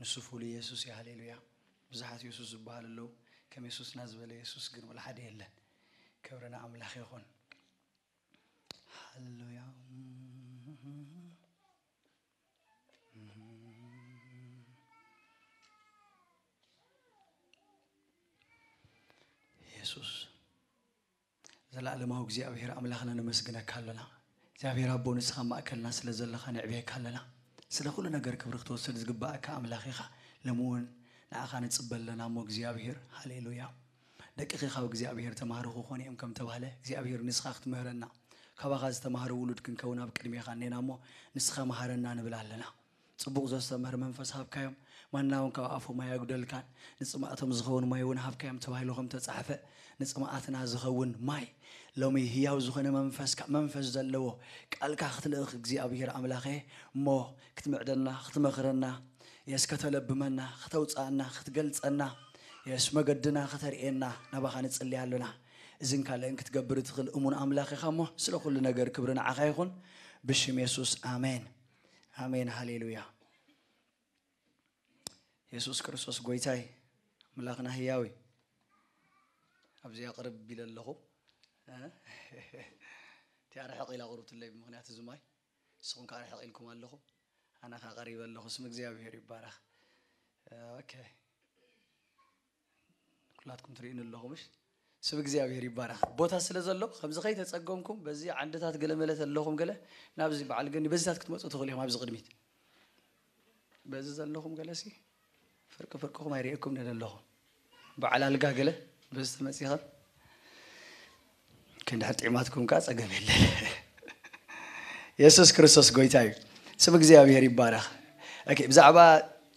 ንሱ ፍሉይ የሱስ እዩ ሃሌሉያ። ብዙሓት የሱስ ዝብሃሉ ኣለው ከም የሱስና ዝበለ የሱስ ግን ወላ ሓደ የለን ክብሪ ንኣምላኽ ይኹን ሃሌሉያ። የሱስ ዘላኣለማዊ እግዚኣብሔር ኣምላክና ነመስግነካ ኣሎና እግዚኣብሔር ኣቦ ንስካ ኣብ ማእከልና ስለ ዘለካ ንዕብየካ ኣለና ስለ ኩሉ ነገር ክብሪ ክትወስድ ዝግባኣካ ኣምላክ ኢካ ሎሚ ውን ንኣካ ንጽበ ኣለና እሞ እግዚኣብሔር ሃሌሉያ ደቅኪ ካብ እግዚኣብሔር ተማህሩ ክኮኑ እዮም ከም ተባህለ እግዚኣብሔር ንስካ ክትምህረና ካባካ ዝተማህረ ውሉድ ክንከውን ኣብ ቅድሜካ እኔና እሞ ንስካ ማሃረና ንብል ኣለና ጽቡቕ ዘስተምህር መንፈስ ሃብካዮም፣ ማና እውን ካብ ኣፎም ኣየጕደልካን፣ ንጽማእቶም ዝኸውን ማይ እውን ሃብካዮም ተባሂሉ ኸም እተጻሕፈ፣ ንጽምኣትና ዝኸውን ማይ፣ ሎሚ ህያው ዝዀነ መንፈስካ፣ መንፈስ ዘለዎ ቃልካ ኽትልእኽ እግዚኣብሄር ኣምላኸየ እሞ፣ ክትምዕደና፣ ኽትመኽረና፣ የስ ከተለብመና፣ ኸተውጽኣና፣ ኽትገልጸና፣ የስ መገድና ኸተርእየና ናባኻ ንጽሊ ኣሎና። እዝን ካልእን ክትገብር እትኽእል እሙን ኣምላኽ ኢኻ እሞ፣ ስለ ዅሉ ነገር ክብሪ ንዓኻ ይኹን፣ ብሽም የሱስ ኣሜን። ኣሜን ሃሌሉያ የሱስ ክርስቶስ ጎይታይ ኣምላኽና ህያው እዩ ኣብዚ ኣቕርብ ቢለ ኣለኹ እቲ ኣርሕቕ ኢላ ቕርብትለይ ብምክንያት እዚ ማይ ንስኹም ከዓ ኣርሕቕ ኢልኩም ኣለኹ ኣነ ከዓ ቀሪበ ኣለኹ ስም እግዚኣብሄር ይባረኽ ኦኬ ኩላትኩም ትሪኡኒ ኣለኹም እሽ ስም እግዚኣብሔር ይባረክ ቦታ ስለ ዘሎ ከምዚ ከይተፀገምኩም በዚ ዓንድታት ገለመለ ተለኹም ገለ ናብዚ በዓል ገኒ በዚታት ክትመፁ ትኽእሉ ኢኹም ኣብዚ ቅድሚት በዚ ዘለኹም ገለ ሲ ፍርቂ ፍርቅኹም ኣይርእየኩም ነለኹም በዓል ኣልጋ ገለ በዚ ተመፂኸም ክንዲ ሕር ጢዕማትኩም ከኣ ጸገም የለን የሱስ ክርስቶስ ጎይታ እዩ ስም እግዚኣብሄር ይባረኽ ኦኬ ብዛዕባ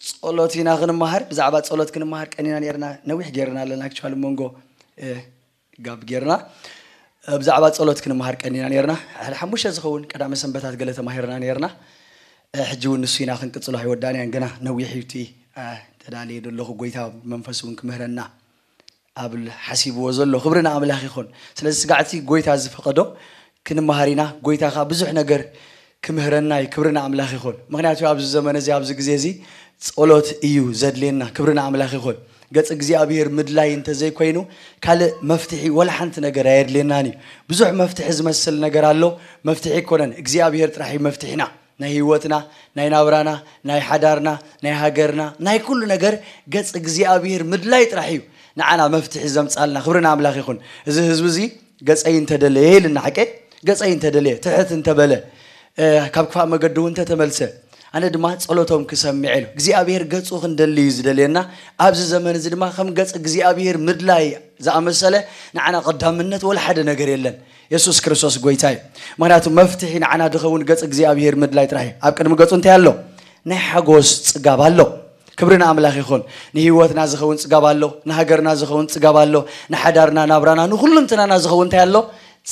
ጸሎት ኢና ክንመሃር ብዛዕባ ጸሎት ክንመሃር ቀኒና ነርና ነዊሕ ጌርና ኣለና ክቻል መንጎ ጋብ ጌርና ብዛዕባ ጸሎት ክንመሃር ቀኒና ነርና ሕደ ሓሙሽተ ዝኸውን ቀዳመ ሰንበታት ገለ ተማሂርና ነርና ሕጂ እውን ንሱ ኢና ክንቅጽሎ ኣይወዳንያን ግና ነዊሕ እዩ እቲ ተዳልየ ዘለኹ ጎይታ መንፈስ እውን ክምህረና ኣብል ሓሲብዎ ዘሎ ክብሪ ንኣምላኽ ይኹን ስለዚ ስጋዕቲ ጎይታ ዝፈቀዶ ክንመሃር ኢና ጎይታ ከኣ ብዙሕ ነገር ክምህረና እዩ ክብሪ ንኣምላኽ ይኹን ምኽንያቱ ኣብዚ ዘመን እዚ ኣብዚ ግዜ እዚ ጸሎት እዩ ዘድልየና ክብሪ ንኣምላኽ ይኹን ገጽ እግዚኣብሔር ምድላይ እንተዘይኮይኑ ካልእ መፍትሒ ወላ ሓንቲ ነገር ኣየድልየናን እዩ ብዙሕ መፍትሒ ዝመስል ነገር ኣሎ መፍትሒ ኣይኮነን እግዚኣብሔር ጥራሕ እዩ መፍትሒና ናይ ህይወትና ናይ ናብራና ናይ ሓዳርና ናይ ሃገርና ናይ ኩሉ ነገር ገጽ እግዚኣብሄር ምድላይ ጥራሕ እዩ ንዓና መፍትሒ ዘምጻልና ክብሪ ንኣምላኽ ይኹን እዚ ህዝቢ እዚ ገጸይ እንተደለየ ኢልና ሓቀይ ገጸይ እንተደለየ ትሕት እንተበለ ካብ ክፋእ መገዲ እውን እንተተመልሰ ኣነ ድማ ጸሎቶም ክሰምዕ ኢሉ እግዚኣብሄር ገጹ ክንደሊ እዩ ዝደልየና ኣብዚ ዘመን እዚ ድማ ከም ገጽ እግዚኣብሄር ምድላይ ዝኣመሰለ ንዓና ቀዳምነት ወላ ሓደ ነገር የለን የሱስ ክርስቶስ ጎይታ እዩ ምክንያቱ መፍትሒ ንዓና ድኸውን ገጽ እግዚኣብሄር ምድላይ ጥራሕ እዩ ኣብ ቅድሚ ገጹ እንታይ ኣሎ ናይ ሓጎስ ጽጋብ ኣሎ ክብሪ ንኣምላኽ ይኹን ንህይወትና ዝኸውን ጽጋብ ኣሎ ንሃገርና ዝኸውን ጽጋብ ኣሎ ንሓዳርና ናብራና ንኩሉንትናና ዝኸውን እንታይ ኣሎ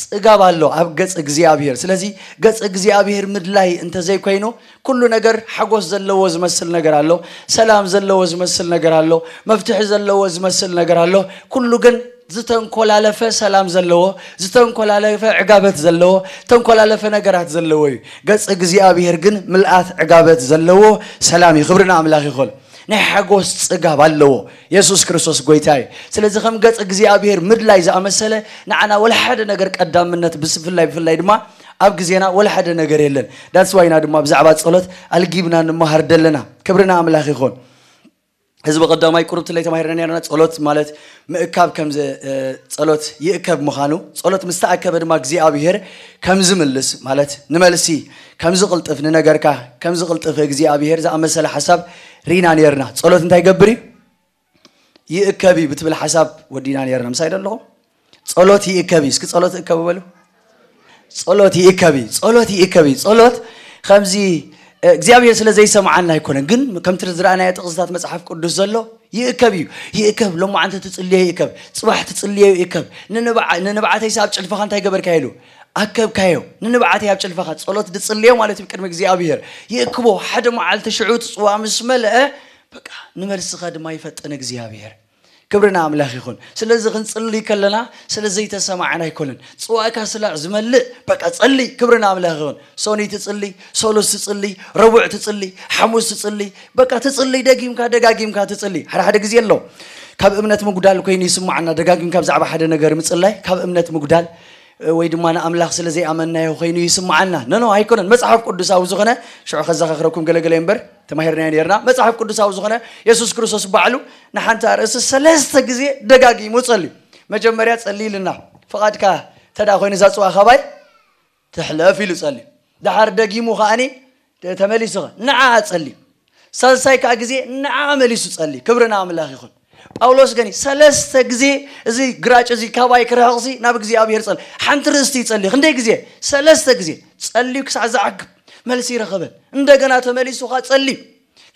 ጽጋብ ኣሎ ኣብ ገጽ እግዚኣብሄር ስለዚ ገጽ እግዚኣብሄር ምድላይ እንተዘይኮይኑ ኩሉ ነገር ሓጎስ ዘለዎ ዝመስል ነገር ኣሎ፣ ሰላም ዘለዎ ዝመስል ነገር ኣሎ፣ መፍትሒ ዘለዎ ዝመስል ነገር ኣሎ፣ ኩሉ ግን ዝተንኮላለፈ ሰላም ዘለዎ፣ ዝተንኮላለፈ ዕጋበት ዘለዎ፣ ተንኮላለፈ ነገራት ዘለዎ እዩ። ገጽ እግዚኣብሔር ግን ምልኣት ዕጋበት ዘለዎ ሰላም እዩ። ክብሪ ንኣምላኽ ይኹን። ናይ ሓጎስ ጽጋብ ኣለዎ የሱስ ክርስቶስ ጎይታ እዩ። ስለዚ ከም ገጽ እግዚኣብሔር ምድላይ ዝኣመሰለ ንዓና ወላ ሓደ ነገር ቀዳምነት ብፍላይ ብፍላይ ድማ ኣብ ግዜና ወላ ሓደ ነገር የለን ዳትስ ዋይ ኢና ድማ ብዛዕባ ጸሎት ኣልጊብና ንመሃር ደለና ክብሪ ንኣምላኽ ይኹን ህዝቢ ቀዳማይ ቁሩብ ትለይ ተማሂርና ነርና ጸሎት ማለት ምእካብ ከም ጸሎት ይእከብ ምዃኑ ጸሎት ምስ ተኣከበ ድማ እግዚኣብሄር ከም ዝምልስ ማለት ንመልሲ ከም ዝቕልጥፍ ንነገርካ ከም ዝቕልጥፍ እግዚኣብሄር ዝኣመሰለ ሓሳብ ሪና ነርና ጸሎት እንታይ ይገብር እዩ ይእከብ እዩ ብትብል ሓሳብ ወዲና ነርና ምሳይ ዶ ኣለኹም ጸሎት ይእከብ እዩ እስኪ ጸሎት እከቡ በሉ ጸሎት ይእከብ እዩ ጸሎት ይእከብ እዩ ጸሎት ከምዚ እግዚኣብሔር ስለ ዘይሰምዓና ኣይኮነን ግን ከምቲ ዝረኣናዮ ጥቕስታት መጽሓፍ ቅዱስ ዘሎ ይእከብ እዩ ይእከብ ሎማዓንቲ ትጽልዮ ይእከብ ጽባሕ ትጽልዮ ይእከብ ንንብዓተይስ ኣብ ጭልፋኻ እንታይ ገበርካዮ ኢሉ ኣከብካዮ ንንብዓተይ ኣብ ጭልፋኻ ጸሎት ድጽልዮ ማለት እዩ ቅድሚ እግዚኣብሔር ይእክቦ ሓደ መዓልቲ ሽዑ እቲ ጽዋ ምስ መልአ በቃ ንመልስኻ ድማ ይፈጥን እግዚኣብሔር ክብሪ ንኣምላኽ ይኹን ስለዚ ክንጽልይ ከለና ስለ ዘይተሰማዕን ኣይኮንን ጽዋእካ ስላዕ ዝመልእ በቃ ጸልይ ክብሪ ንኣምላኽ ይኹን ሶኒ ትጽልይ ሶሉስ ትጽልይ ረቡዕ ትጽልይ ሓሙስ ትጽልይ በቃ ትጽልይ ደጊምካ ደጋጊምካ ትጽልይ ሓደ ሓደ ግዜ ኣሎ ካብ እምነት ምጉዳል ኮይኑ ይስማዓና ደጋጊምካ ብዛዕባ ሓደ ነገር ምጽላይ ካብ እምነት ምጉዳል ወይ ድማ ንኣምላኽ ስለ ዘይኣመናዮ ኮይኑ ይስምዓና ነኖ ኣይኮነን መጽሓፍ ቅዱሳዊ ዝኾነ ሽዑ ከዘኻኽረኩም ገለገለ እምበር ተማሂርናዮ ኔርና። መጽሓፍ ቅዱሳዊ ዝኾነ የሱስ ክርስቶስ ባዕሉ ንሓንቲ ኣርእስቲ ሰለስተ ግዜ ደጋጊሙ ጸልዩ። መጀመርያ ጸሊ ኢልና ፍቓድካ እንተ ኮይኑ እዛ ጽዋ ካባይ ትሕለፍ ኢሉ ጸልዩ። ድሓር ደጊሙ ከኣኒ ተመሊሱ ንዓኣ ጸልዩ። ሳልሳይ ከኣ ግዜ ንዓኣ መሊሱ ጸልዩ። ክብሪ ንኣምላኽ ይኹን። ጳውሎስ ግን ሰለስተ ግዜ እዚ ግራጭ እዚ ካባይ ክርሕቕሲ ናብ እግዚኣብሔር ጸል ሓንቲ ርእስቲ ይጸልዩ ክንደይ ግዜ ሰለስተ ግዜ ጸልዩ ክሳዕ ዝዓግብ መልሲ ይረኸበን እንደገና ተመሊሱ ኸዓ ጸልዩ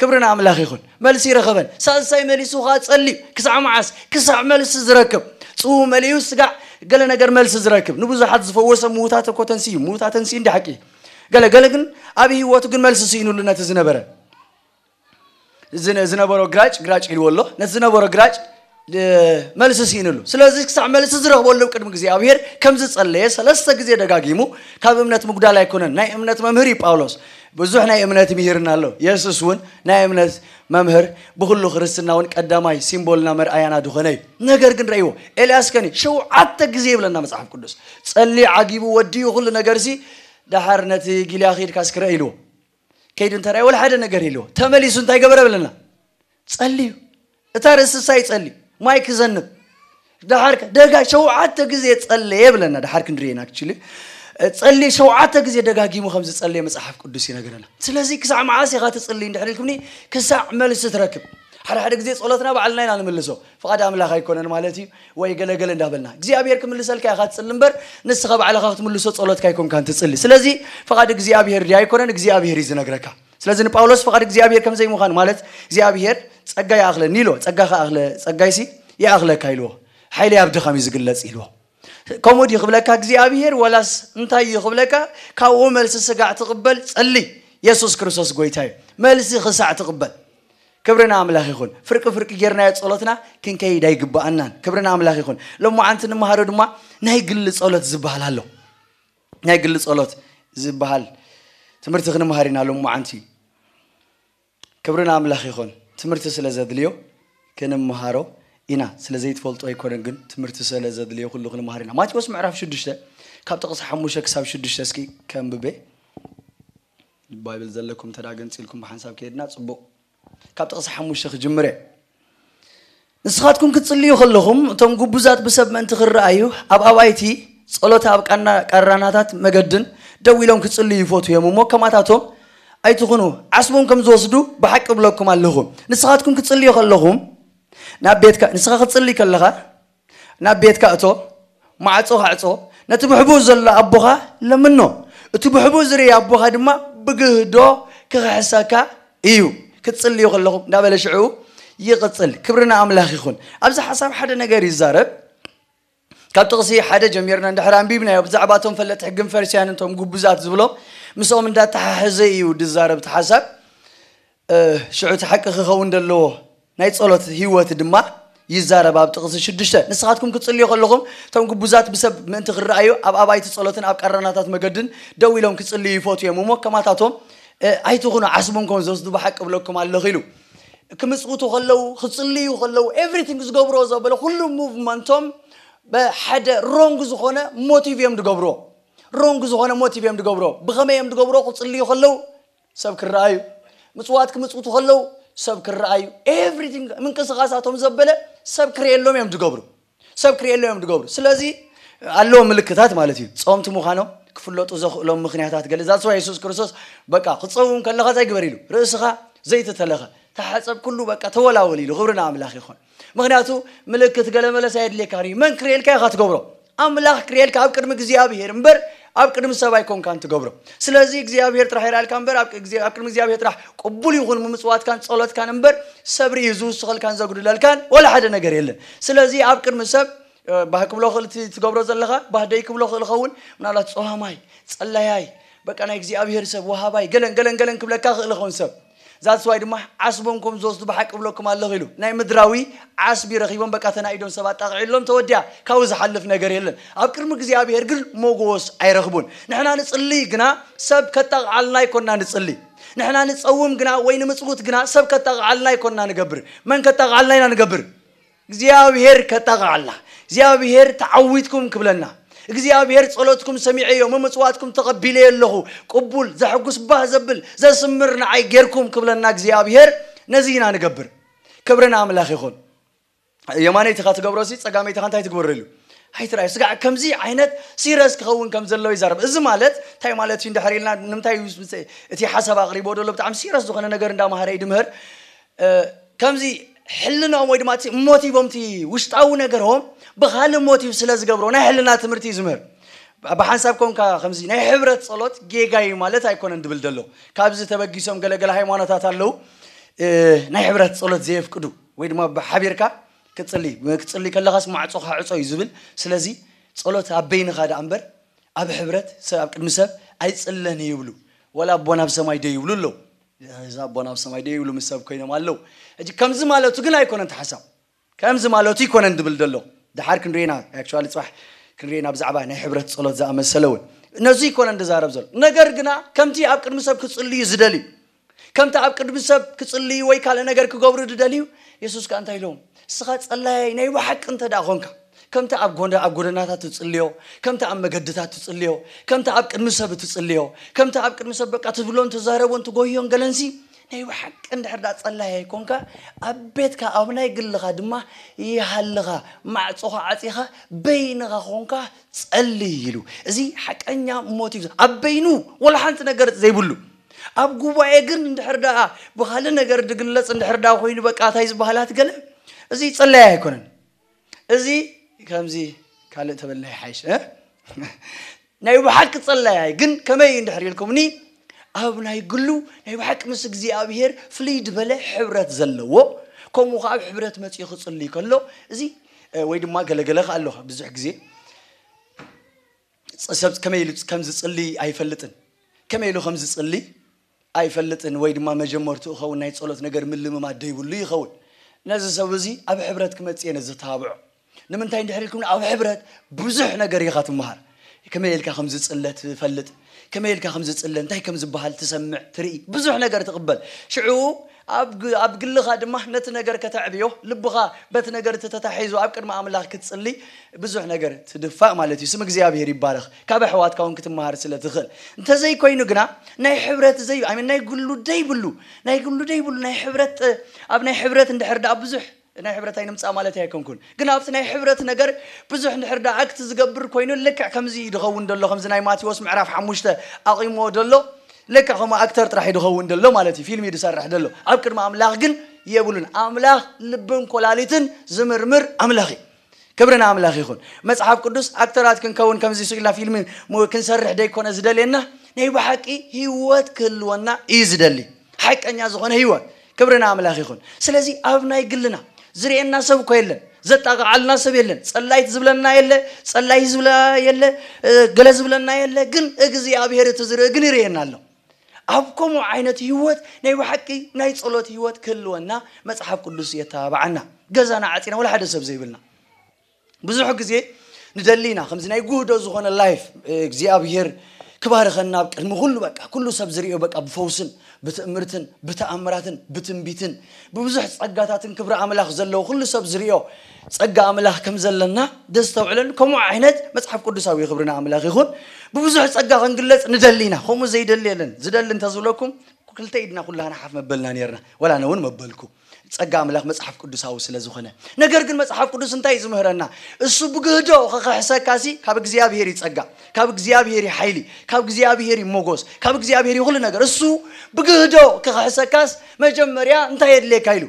ክብሪ ንኣምላኽ ይኹን መልሲ ይረኸበን ሳልሳይ መሊሱ ኸዓ ጸልዩ ክሳዕ መዓስ ክሳዕ መልሲ ዝረክብ ጽው መሊኡ ስጋዕ ገለ ነገር መልሲ ዝረክብ ንብዙሓት ዝፈወሰ ምዉታት እኮ ተንስዩ ምዉታ ተንስዩ እንዲ ሓቂ ገለ ገለ ግን ኣብ ህይወቱ ግን መልሲ ስኢኑሉ ነቲ ዝነበረ ዝነበሮ ግራጭ ግራጭ ኢልዎ ኣሎ ነቲ ዝነበሮ ግራጭ መልሲ ስኢንሉ ስለዚ ክሳዕ መልሲ ዝረኽበሉ ቅድሚ እግዚኣብሄር ከም ዝጸለየ ሰለስተ ግዜ ደጋጊሙ ካብ እምነት ምጉዳል ኣይኮነን ናይ እምነት መምህር እዩ ጳውሎስ ብዙሕ ናይ እምነት ምሂርና ኣሎ የሱስ እውን ናይ እምነት መምህር ብኩሉ ክርስትና እውን ቀዳማይ ሲምቦልና መርኣያና ድኾነ እዩ ነገር ግን ረእይዎ ኤልያስ ከኒ ሸውዓተ ግዜ ይብለና መጽሓፍ ቅዱስ ጸሊ ዓጊቡ ወድዩ ኩሉ ነገር ሲ ደሓር ነቲ ጊልያ ኺድካ ስክረእ ኢልዎ ከይዱ እንተርኣየ ወላ ሓደ ነገር የለዎ ተመሊሱ እንታይ ገበረ ብለና ጸልዩ እታ ርእሲ ሳይ ጸልዩ ማይ ክዘንብ ደሓር ደጋ ሸውዓተ ግዜ ጸለየ ብለና ደሓር ክንድርየን ኣክቹሊ ጸሊ ሸውዓተ ግዜ ደጋጊሙ ከም ዝጸለየ መጽሓፍ ቅዱስ ይነግረና ስለዚ ክሳዕ መዓስ ኢኻ ትጽሊ እንድሕር ኢልኩምኒ ክሳዕ መልሲ ትረክብ ሓደ ሓደ ግዜ ጸሎትና ባዕልና ኢና ንመልሶ ፍቓድ ኣምላኽ ኣይኮነን ማለት እዩ ወይ ገለ ገለ እንዳበልና እግዚኣብሔር ክምልሰልካ ኢኻ ትጽሊ እምበር ንስኻ ባዕልኻ ክትምልሶ ጸሎትካ ኣይኮንካን ትጽሊ ስለዚ ፍቓድ እግዚኣብሔር ድያ ኣይኮነን እግዚኣብሔር እዩ ዝነግረካ ስለዚ ንጳውሎስ ፍቓድ እግዚኣብሔር ከም ዘይምዃኑ ማለት እግዚኣብሔር ጸጋ ይኣኽለኒ ኢልዎ ጸጋ ከኣኽለ ጸጋይሲ ይኣኽለካ ኢልዎ ሓይለይ ኣብ ድኻም እዩ ዝግለጽ ኢልዎ ከምኡ ድዩ ክብለካ እግዚኣብሔር ወላስ እንታይ እዩ ክብለካ ካብኡ መልሲ ስጋዕ ትቕበል ጸሊ የሱስ ክርስቶስ ጎይታ እዩ መልሲ ክሳዕ ትቕበል ክብሪ ንኣምላኽ ይኹን ፍርቂ ፍርቂ ጌርናዮ ጸሎትና ክንከይድ ኣይግብኣናን ክብሪ ንኣምላኽ ይኹን ሎማዓንቲ ንመሃሮ ድማ ናይ ግሊ ጸሎት ዝበሃል ኣሎ ናይ ግሊ ጸሎት ዝበሃል ትምህርቲ ክንመሃር ኢና ሎማዓንቲ ክብሪ ንኣምላኽ ይኹን ትምህርቲ ስለ ዘድልዮ ክንመሃሮ ኢና ስለ ዘይትፈልጦ ኣይኮነን ግን ትምህርቲ ስለ ዘድልዮ ኩሉ ክንመሃር ኢና ማቴዎስ ምዕራፍ ሽዱሽተ ካብ ጥቕሲ ሓሙሽተ ክሳብ ሽዱሽተ እስኪ ከንብበ ባይብል ዘለኩም እንተ ገንጺልኩም ብሓንሳብ ከይድና ጽቡቕ ካብ ጥቕሲ ሓሙሽተ ክጅምር እየ ንስኻትኩም ክትጽልዩ ከለኹም እቶም ጉቡዛት ብሰብ ምእንቲ ክረኣዩ ኣብ ኣባይቲ ጸሎት ኣብ ቃራናታት መገድን ደው ኢሎም ክጽልዩ ይፈቱ እዮም እሞ ከማታቶም ኣይትኹኑ ዓስቦም ከም ዝወስዱ ብሓቂ ብለኩም ኣለኹ ንስኻትኩም ክትጽልዩ ከለኹም ናብ ቤትካ ንስኻ ክትጽልይ ከለኻ ናብ ቤትካ እቶ፣ ማዕጾኻ ዕጾ፣ ነቲ ብሕቡእ ዘሎ ኣቦኻ ለምኖ፣ እቲ ብሕቡእ ዝርኢ ኣቦኻ ድማ ብግህዶ ኪኽሕሰካ እዩ፣ ክትጽልዩ ከለኹም እንዳበለ ሽዕኡ ይቕጽል። ክብሪ ንኣምላኽ ይኹን። ኣብዚ ሓሳብ ሓደ ነገር ይዛረብ። ካብ ጥቕሲ ሓደ ጀሚርና እንድሕር ኣንቢብናዮ ብዛዕባ እቶም ፈለጥቲ ሕግን ፈሪሳውያንን እቶም ግቡዛት ዝብሎም ምስኦም እንዳተሓሓዘ እዩ ዝዛረብ እቲ ሓሳብ። ሽዑ እቲ ሓቂ ክኸውን ዘለዎ ናይ ጸሎት ህይወት ድማ ይዛረብ ኣብ ጥቕሲ ሽዱሽተ ንስኻትኩም ክትጽልዩ ከለኹም እቶም ግቡዛት ብሰብ ምእንቲ ክረኣዩ ኣብ ኣባይቲ ጸሎትን ኣብ ቃራናታት መገድን ደው ኢሎም ክጽልዩ ይፈትዩ እዮም እሞ ከማታቶም ኣይትኹኑ ዓስቦም ከም ዝወስዱ ብሓቂ እብለኩም ኣለኹ ኢሉ ክምጽውቱ ከለዉ ክጽልዩ ከለዉ ኤቭሪቲንግ ዝገብርዎ ዘበለ ኩሉ ሙቭመንቶም ብሓደ ሮንግ ዝኾነ ሞቲቭ እዮም ዝገብርዎ ሮንግ ዝኾነ ሞቲቭ እዮም ዝገብርዎ ብኸመይ እዮም ዝገብርዎ ክጽልዩ ከለዉ ሰብ ክረኣዩ፣ ምጽዋት ክምጽውቱ ከለዉ ሰብ ክረኣዩ፣ ኤቭሪቲንግ ምንቅስቓሳቶም ዘበለ ሰብ ክርእየሎም እዮም ዝገብሩ። ሰብ ክርእየሎም እዮም ዝገብሩ። ስለዚ ኣለዎም ምልክታት ማለት እዩ። ጸወምቲ ምዃኖም ክፍለጡ ዘኽእሎም ምኽንያታት ገለ ዛትስ ዋይ የሱስ ክርስቶስ በቃ ክትጸውም ከለኻ እንታይ ግበር ኢሉ ርእስኻ ዘይቲ ተለኸ ተሓጸብ ኩሉ በቃ ተወላወል ኢሉ ክብሪ ንኣምላኽ ይኹን። ምክንያቱ ምልክት ገለ መለስ ኣየድልየካን እዩ መን ክርእየልካ ኢካ ትገብሮ ኣምላክ ክርእየልካ ኣብ ቅድሚ እግዚኣብሄር እምበር ኣብ ቅድሚ ሰብ ኣይኮንካን ትገብሮ ስለዚ እግዚኣብሄር ጥራሕ ይርኣልካ እምበር ኣብ ቅድሚ እግዚኣብሄር ጥራሕ ቅቡል ይኹን ምምጽዋትካን ጸሎትካን እምበር ሰብ ርእዩ ዝውስኸልካን ዘጉድለልካን ወላ ሓደ ነገር የለን ስለዚ ኣብ ቅድሚ ሰብ ባህ ክብሎ ክእል ትገብሮ ዘለኻ ባህ ደይ ክብሎ ክእል ኸውን ምናልባት ጸዋማይ ጸላያይ በቃ ናይ እግዚኣብሄር ሰብ ወሃባይ ገለን ገለን ገለን ክብለካ ክእል ኸውን ሰብ That's why ድማ ዓስቦም ኮም ዝወስዱ ብሓቂ እብለኩም ኣለኹ ኢሉ ናይ ምድራዊ ዓስቢ ረኺቦም በቃ ተናኢዶም ሰብ ኣጣቕዒሎም ተወዲኣ ካብኡ ዝሓልፍ ነገር የለን ኣብ ቅድሚ እግዚኣብሄር ግን ሞጎስ ኣይረኽቡን ንሕና ንጽሊ ግና ሰብ ከጣቕዓልና ኣይኮና ንጽሊ ንሕና ንጸውም ግና ወይ ንምጽውት ግና ሰብ ከጣቕዓልና ኣይኮና ንገብር መን ከጣቕዓልና ኢና ንገብር እግዚኣብሔር ከጣቕዓልና እግዚኣብሔር ተዓዊትኩም ክብለና እግዚኣብሔር ጸሎትኩም ሰሚዐዮ መመጽዋዕትኩም ተቐቢለዮ ኣለኹ ቅቡል ዘሕጉስ ባህ ዘብል ዘስምር ንዓይ ጌርኩም ክብለና እግዚኣብሔር ነዚ ኢና ንገብር ክብሪ ንኣምላኽ ይኹን የማነይትኻ ትገብሮ ሲ ጸጋመይትኻ እንታይ ትግበሮ ኢሉ ኣይትርኣዩ ስጋዕ ከምዚ ዓይነት ሲረስ ክኸውን ከም ዘለዎ ይዛረብ እዚ ማለት እንታይ ማለት እዩ እንድሕር ኢልና ንምንታይ እቲ ሓሳብ ኣቕሪቦ ደሎ ብጣዕሚ ሲረስ ዝኾነ ነገር እንዳማሃረ ይድምህር ከምዚ ሕልንኦም ወይ ድማ እቲ ሞቲቮም እቲ ውሽጣዊ ነገሮም ብካልእ ሞቲቭ ስለ ዝገብሮ ናይ ሕልና ትምህርቲ እዩ ዝምህር ብሓንሳብ ኮንካ ከምዚ ናይ ሕብረት ጸሎት ጌጋ እዩ ማለት ኣይኮነን ድብል ደሎ ካብዚ ተበጊሶም ገለገለ ሃይማኖታት ኣለው ናይ ሕብረት ጸሎት ዘየፍቅዱ ወይ ድማ ብሓቢርካ ክትጽሊ ክትጽሊ ከለኻስ ማዕጾኻ ዕጾ እዩ ዝብል ስለዚ ጸሎት ኣብ በይንኻ ደኣ እምበር ኣብ ሕብረት ሰብ ኣብ ቅድሚ ሰብ ኣይጽለን ይብሉ ወላ ኣቦና ኣብ ሰማይ ዶ ይብሉ ኣለዉ እዚ ኣቦና ኣብ ሰማይ ደይ ይብሉ ምስ ሰብ ኮይኖም ኣለው ሕጂ ከምዚ ማለቱ ግን ኣይኮነን እቲ ሓሳብ ከምዚ ማለቱ ይኮነን ድብል ደሎ ደሓር ክንሪኦ ኢና ኣክቹዋሊ ጽባሕ ክንሪኦ ኢና ብዛዕባ ናይ ሕብረት ጸሎት ዝኣመሰለ እውን ነዚ ይኮነን ድዛረብ ዘሎ ነገር ግና ከምቲ ኣብ ቅድሚ ሰብ ክጽልዩ ዝደልዩ ከምቲ ኣብ ቅድሚ ሰብ ክጽልዩ ወይ ካልእ ነገር ክገብሩ ዝደልዩ የሱስ ከኣ እንታይ ኢሎም እስኻ ጸላያይ ናይ ብሓቂ እንተ ደኣ ኾንካ ከምቲ ኣብ ጎደናታት እትጽልዮ፣ ከምቲ ኣብ መገድታት እትጽልዮ፣ ከምቲ ኣብ ቅድሚ ሰብ እትጽልዮ፣ ከምቲ ኣብ ቅድሚ ሰብ በቃ ትብሎን ትዛረቦን ትጎህዮን ገለንሲ፣ ናይ ብሓቂ እንድሕር ደኣ ጸላዪ ኣይኮንካ፣ ኣብ ቤትካ ኣብ ናይ ግልኻ ድማ ይሃልኻ፣ ማዕጾኻ ዓጺኻ በይንኻ ኮንካ ጸልይ ኢሉ። እዚ ሓቀኛ ሞት እዩ። ኣብ በይኑ ወላ ሓንቲ ነገር ዘይብሉ፣ ኣብ ጉባኤ ግን እንድሕር ደኣ ብኻልእ ነገር ዝግለጽ እንድሕር ደኣ ኮይኑ በቃ እንታይ ዝበሃላት ገለ እዚ ጸላዪ ኣይኮነን። እዚ ከምዚ ካልእ ተበላይ ይሓይሽ እ ናይ ብሓቂ ጸላያይ ግን ከመይ እዩ እንድሕር ኢልኩምኒ ኣብ ናይ ግሉ ናይ ብሓቂ ምስ እግዚኣብሄር ፍልይ ድበለ ሕብረት ዘለዎ ከምኡ ከዓ ኣብ ሕብረት መፅኡ ክፅልይ ከሎ እዚ ወይ ድማ ገለገለ ከዓ ኣለካ ብዙሕ ግዜ ሰብ ከመይ ኢሉ ከም ዝፅልይ ኣይፈልጥን ከመይ ኢሉ ከም ዝፅልይ ኣይፈልጥን ወይ ድማ መጀመርትኡ ኸውን ናይ ጸሎት ነገር ምልምማድ ዶ ይብሉ ይኸውን ነዚ ሰብ እዚ ኣብ ሕብረት ክመጽእ እየ ዘተባብዖ ንምንታይ እንድሕር ኢልኩምኒ ኣብ ሕብረት ብዙሕ ነገር ኢኻ ትመሃር ከመይ ኢልካ ከም ዝጽለ ትፈልጥ ከመይ ኢልካ ከም ዝጽለ እንታይ ከም ዝበሃል ትሰምዕ ትርኢ ብዙሕ ነገር ትቕበል ሽዑ ኣብ ኣብ ግልኻ ድማ ነቲ ነገር ከተዕብዮ ልብኻ በቲ ነገር እቲ ተታሒዙ ኣብ ቅድሚ ኣምላኽ ክትጽሊ ብዙሕ ነገር ትድፋእ ማለት እዩ ስም እግዚኣብሄር ይባረኽ ካብ ኣሕዋትካ ውን ክትመሃር ስለ ትኽእል እንተዘይ ኮይኑ ግና ናይ ሕብረት ዘይ ኣይ ሚን ናይ ግሉ ደይብሉ ናይ ግሉ ደይብሉ ናይ ሕብረት ኣብ ናይ ሕብረት እንድሕር ደኣ ብዙሕ ናይ ሕብረት ኣይንምጻእ ማለተይ ኣይኮንኩን ግን ኣብቲ ናይ ሕብረት ነገር ብዙሕ እንድሕር ድኣ ኣክት ዝገብር ኮይኑ ልክዕ ከምዚ እዩ ድኸውን ደሎ ከምዚ ናይ ማቲዎስ ምዕራፍ ሓሙሽተ ኣቚምዎ ደሎ ልክዕ ከምኡ ኣክተር ጥራሕ እዩ ድኸውን ደሎ ማለት እዩ ፊልም እዩ ድሰርሕ ደሎ ኣብ ቅድሚ ኣምላኽ ግን የብሉን ኣምላኽ ልብን ኮላሊትን ዝምርምር ኣምላኽ እዩ ክብሪ ንኣምላኽ ይኹን። መጽሓፍ ቅዱስ ኣክተራት ክንከውን ከምዚ ስቅ ኢልና ፊልሚ ክንሰርሕ ደይኮነ ዝደልየና ናይ ብሓቂ ህይወት ክህልወና እዩ ዝደሊ ሓቀኛ ዝኾነ ህይወት ክብሪ ንኣምላኽ ይኹን። ስለዚ ኣብ ናይ ግልና ዝርእየና ሰብ እኮ የለን ዘጣቕዓልና ሰብ የለን ጸላይት ዝብለና የለ ጸላይ ዝብለ የለ ገለ ዝብለና የለ ግን እግዚኣብሔር እቲ ዝርኢ ግን ይርእየና ኣሎ። ኣብ ከምኡ ዓይነት ህይወት ናይ ብሓቂ ናይ ጸሎት ህይወት ክህልወና መጽሓፍ ቅዱስ የተባብዓና። ገዛና ዓጺና ወላ ሓደ ሰብ ዘይብልና ብዙሕ ግዜ ንደሊ ኢና ከምዚ ናይ ጉህዶ ዝኾነ ላይፍ እግዚኣብሄር ክባርኸና ኣብ ቅድሚ ኩሉ በቃ ኩሉ ሰብ ዝርእዮ በቃ ብፈውስን ብትእምርትን ብተኣምራትን ብትንቢትን ብብዙሕ ጸጋታትን ክብሪ ኣምላኽ ዘለዎ ኩሉ ሰብ ዝርእዮ ጸጋ ኣምላኽ ከም ዘለና ደስተውዕለሉ ከምኡ ዓይነት መጽሓፍ ቅዱሳዊ እዩ ክብሪ ንኣምላኽ ይኹን ብብዙሕ ጸጋ ክንግለጽ ንደሊ ኢና ከምኡ ዘይደሊ የለን ዝደሊ እንተዝብለኩም ክልተ ኢድና ኩላህና ሓፍ መበልና ነርና ወላ ኣነ እውን መበልኩ ጸጋ ኣምላኽ መጽሓፍ ቅዱሳዊ ስለ ዝኾነ ነገር ግን መጽሓፍ ቅዱስ እንታይ እዩ ዝምህረና እሱ ብግህዶ ክኽሕሰካ ሲ ካብ እግዚኣብሄር እዩ ጸጋ ካብ እግዚኣብሄር እዩ ሓይሊ ካብ እግዚኣብሄር እዩ ሞጎስ ካብ እግዚኣብሄር እዩ ኩሉ ነገር እሱ ብግህዶ ክኽሕሰካስ መጀመርያ እንታይ የድልየካ ኢሉ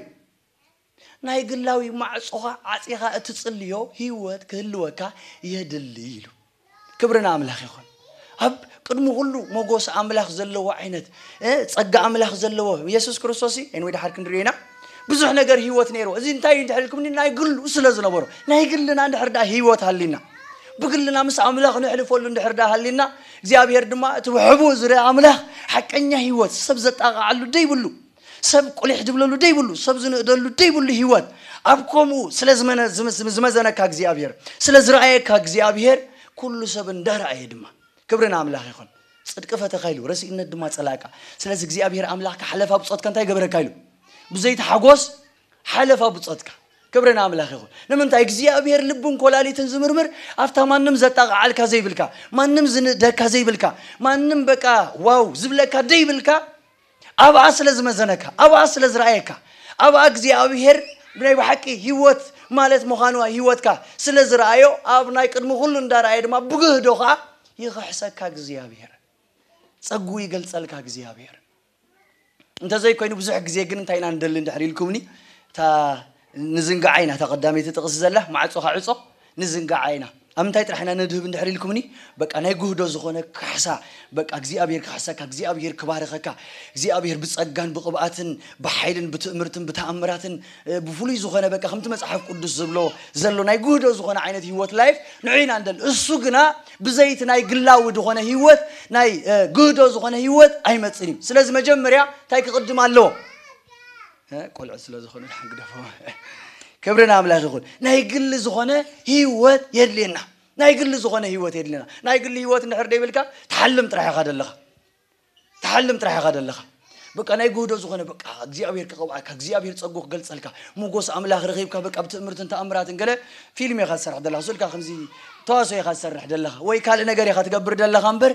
ናይ ግላዊ ማዕጾኻ ዓጺኻ እትጽልዮ ህይወት ክህልወካ የድሊ ኢሉ። ክብሪ ንኣምላኽ ይኹን። ኣብ ቅድሚ ኩሉ ሞጎስ ኣምላኽ ዘለዎ ዓይነት ጸጋ ኣምላኽ ዘለዎ የሱስ ክርስቶስ እዩ። ኤንወይ ድሓር ክንሪኦ ኢና። ብዙሕ ነገር ህይወት ነይሩ። እዚ እንታይ እዩ እንድሕር ኢልኩምኒ ናይ ግሉ ስለ ዝነበሮ ናይ ግልና እንድሕር ደኣ ህይወት ሃሊና ብግልና ምስ ኣምላኽ ነሕልፈሉ እንድሕር ደኣ ሃሊና እግዚኣብሄር ድማ እቲ ብሕቡእ ዝርኣ ኣምላኽ ሓቀኛ ህይወት ሰብ ዘጣቕዓሉ ደይብሉ ሰብ ቁሊሕ ዝብለሉ ደይብሉ ሰብ ዝንእደሉ ደይብሉ ህይወት ኣብ ከምኡ ስለ ዝመዘነካ እግዚኣብሔር ስለ ዝረኣየካ እግዚኣብሔር ኩሉ ሰብ እንዳረኣየ ድማ ክብሪ ንኣምላኽ ይኹን ጽድቂ ፈተኻ ኢሉ ረሲእነት ድማ ጸላእካ ስለዚ እግዚኣብሔር ኣምላኽካ ሓለፋ ብጾትካ እንታይ ገበረካ ኢሉ ብዘይቲ ሓጎስ ሓለፋ ብጾትካ ክብሪ ንኣምላኽ ይኹን ንምንታይ እግዚኣብሔር ልብን ኮላሊትን ዝምርምር ኣብታ ማንም ዘጣቕዓልካ ዘይብልካ ማንም ዝንእደካ ዘይብልካ ማንም በቃ ዋው ዝብለካ ደይብልካ ኣብኣ ስለ ዝመዘነካ፣ ኣብኣ ስለ ዝረኣየካ፣ ኣብኣ እግዚኣብሄር ናይ ብሓቂ ህይወት ማለት ምዃኑ ኣብ ህይወትካ ስለ ዝረኣዮ፣ ኣብ ናይ ቅድሚ ኩሉ እንዳረኣየ ድማ ብግህዶ ከኣ ይኽሕሰካ እግዚኣብሄር። ጸግኡ ይገልጸልካ እግዚኣብሄር። እንተዘይኮይኑ ብዙሕ ግዜ ግን እንታይ ኢና ንደሊ እንድሕር ኢልኩምኒ እታ ንዝንጋዓ ኢና እታ ቀዳመይቲ ጥቅሲ ዘላ ማዕጾኻ ዕጾ ንዝንጋዓ ኢና ኣብ ምንታይ ጥራሕ ኢና ነድህብ እንድሕር ኢልኩምኒ በቃ ናይ ጉህዶ ዝኾነ ካሕሳ በቃ እግዚኣብሄር ክሕሰካ እግዚኣብሄር ክባርኸካ እግዚኣብሄር ብጸጋን ብቅብኣትን ብሓይልን ብትእምርትን ብተኣምራትን ብፍሉይ ዝኾነ በቃ ከምቲ መጽሓፍ ቅዱስ ዝብሎ ዘሎ ናይ ጉህዶ ዝኾነ ዓይነት ህይወት ላይፍ ንዑ ኢና እንደል እሱ ግና ብዘይቲ ናይ ግላዊ ዝኾነ ህይወት ናይ ጉህዶ ዝኾነ ህይወት ኣይመጽን እዩ ስለዚ መጀመርያ እንታይ ክቅድም ኣለዎ ቆልዑት ስለ ዝኾኑ ድሓን ግደፎ ክብሪ ንኣምላኽ ይኹን ናይ ግሊ ዝኾነ ህይወት የድልየና ናይ ግሊ ዝኾነ ህይወት የድልየና ናይ ግሊ ህይወት እንድሕር ደይብልካ ትሓልም ጥራሕ ኢኻ ደለኻ ትሓልም ጥራሕ ኢኻ ደለኻ በቃ ናይ ጉህዶ ዝኾነ በቃ እግዚኣብሔር ክቐብዓካ እግዚኣብሔር ፀጉ ክገልፀልካ ሞጎስ ኣምላኽ ረኺብካ በቃ ብትእምርትን ተኣምራትን ገለ ፊልም ኢኻ ዝሰርሕ ዘለኻ ስልካ ከምዚ ተዋሶ ኢኻ ዝሰርሕ ዘለኻ ወይ ካልእ ነገር ኢኻ ትገብር ዘለኻ እምበር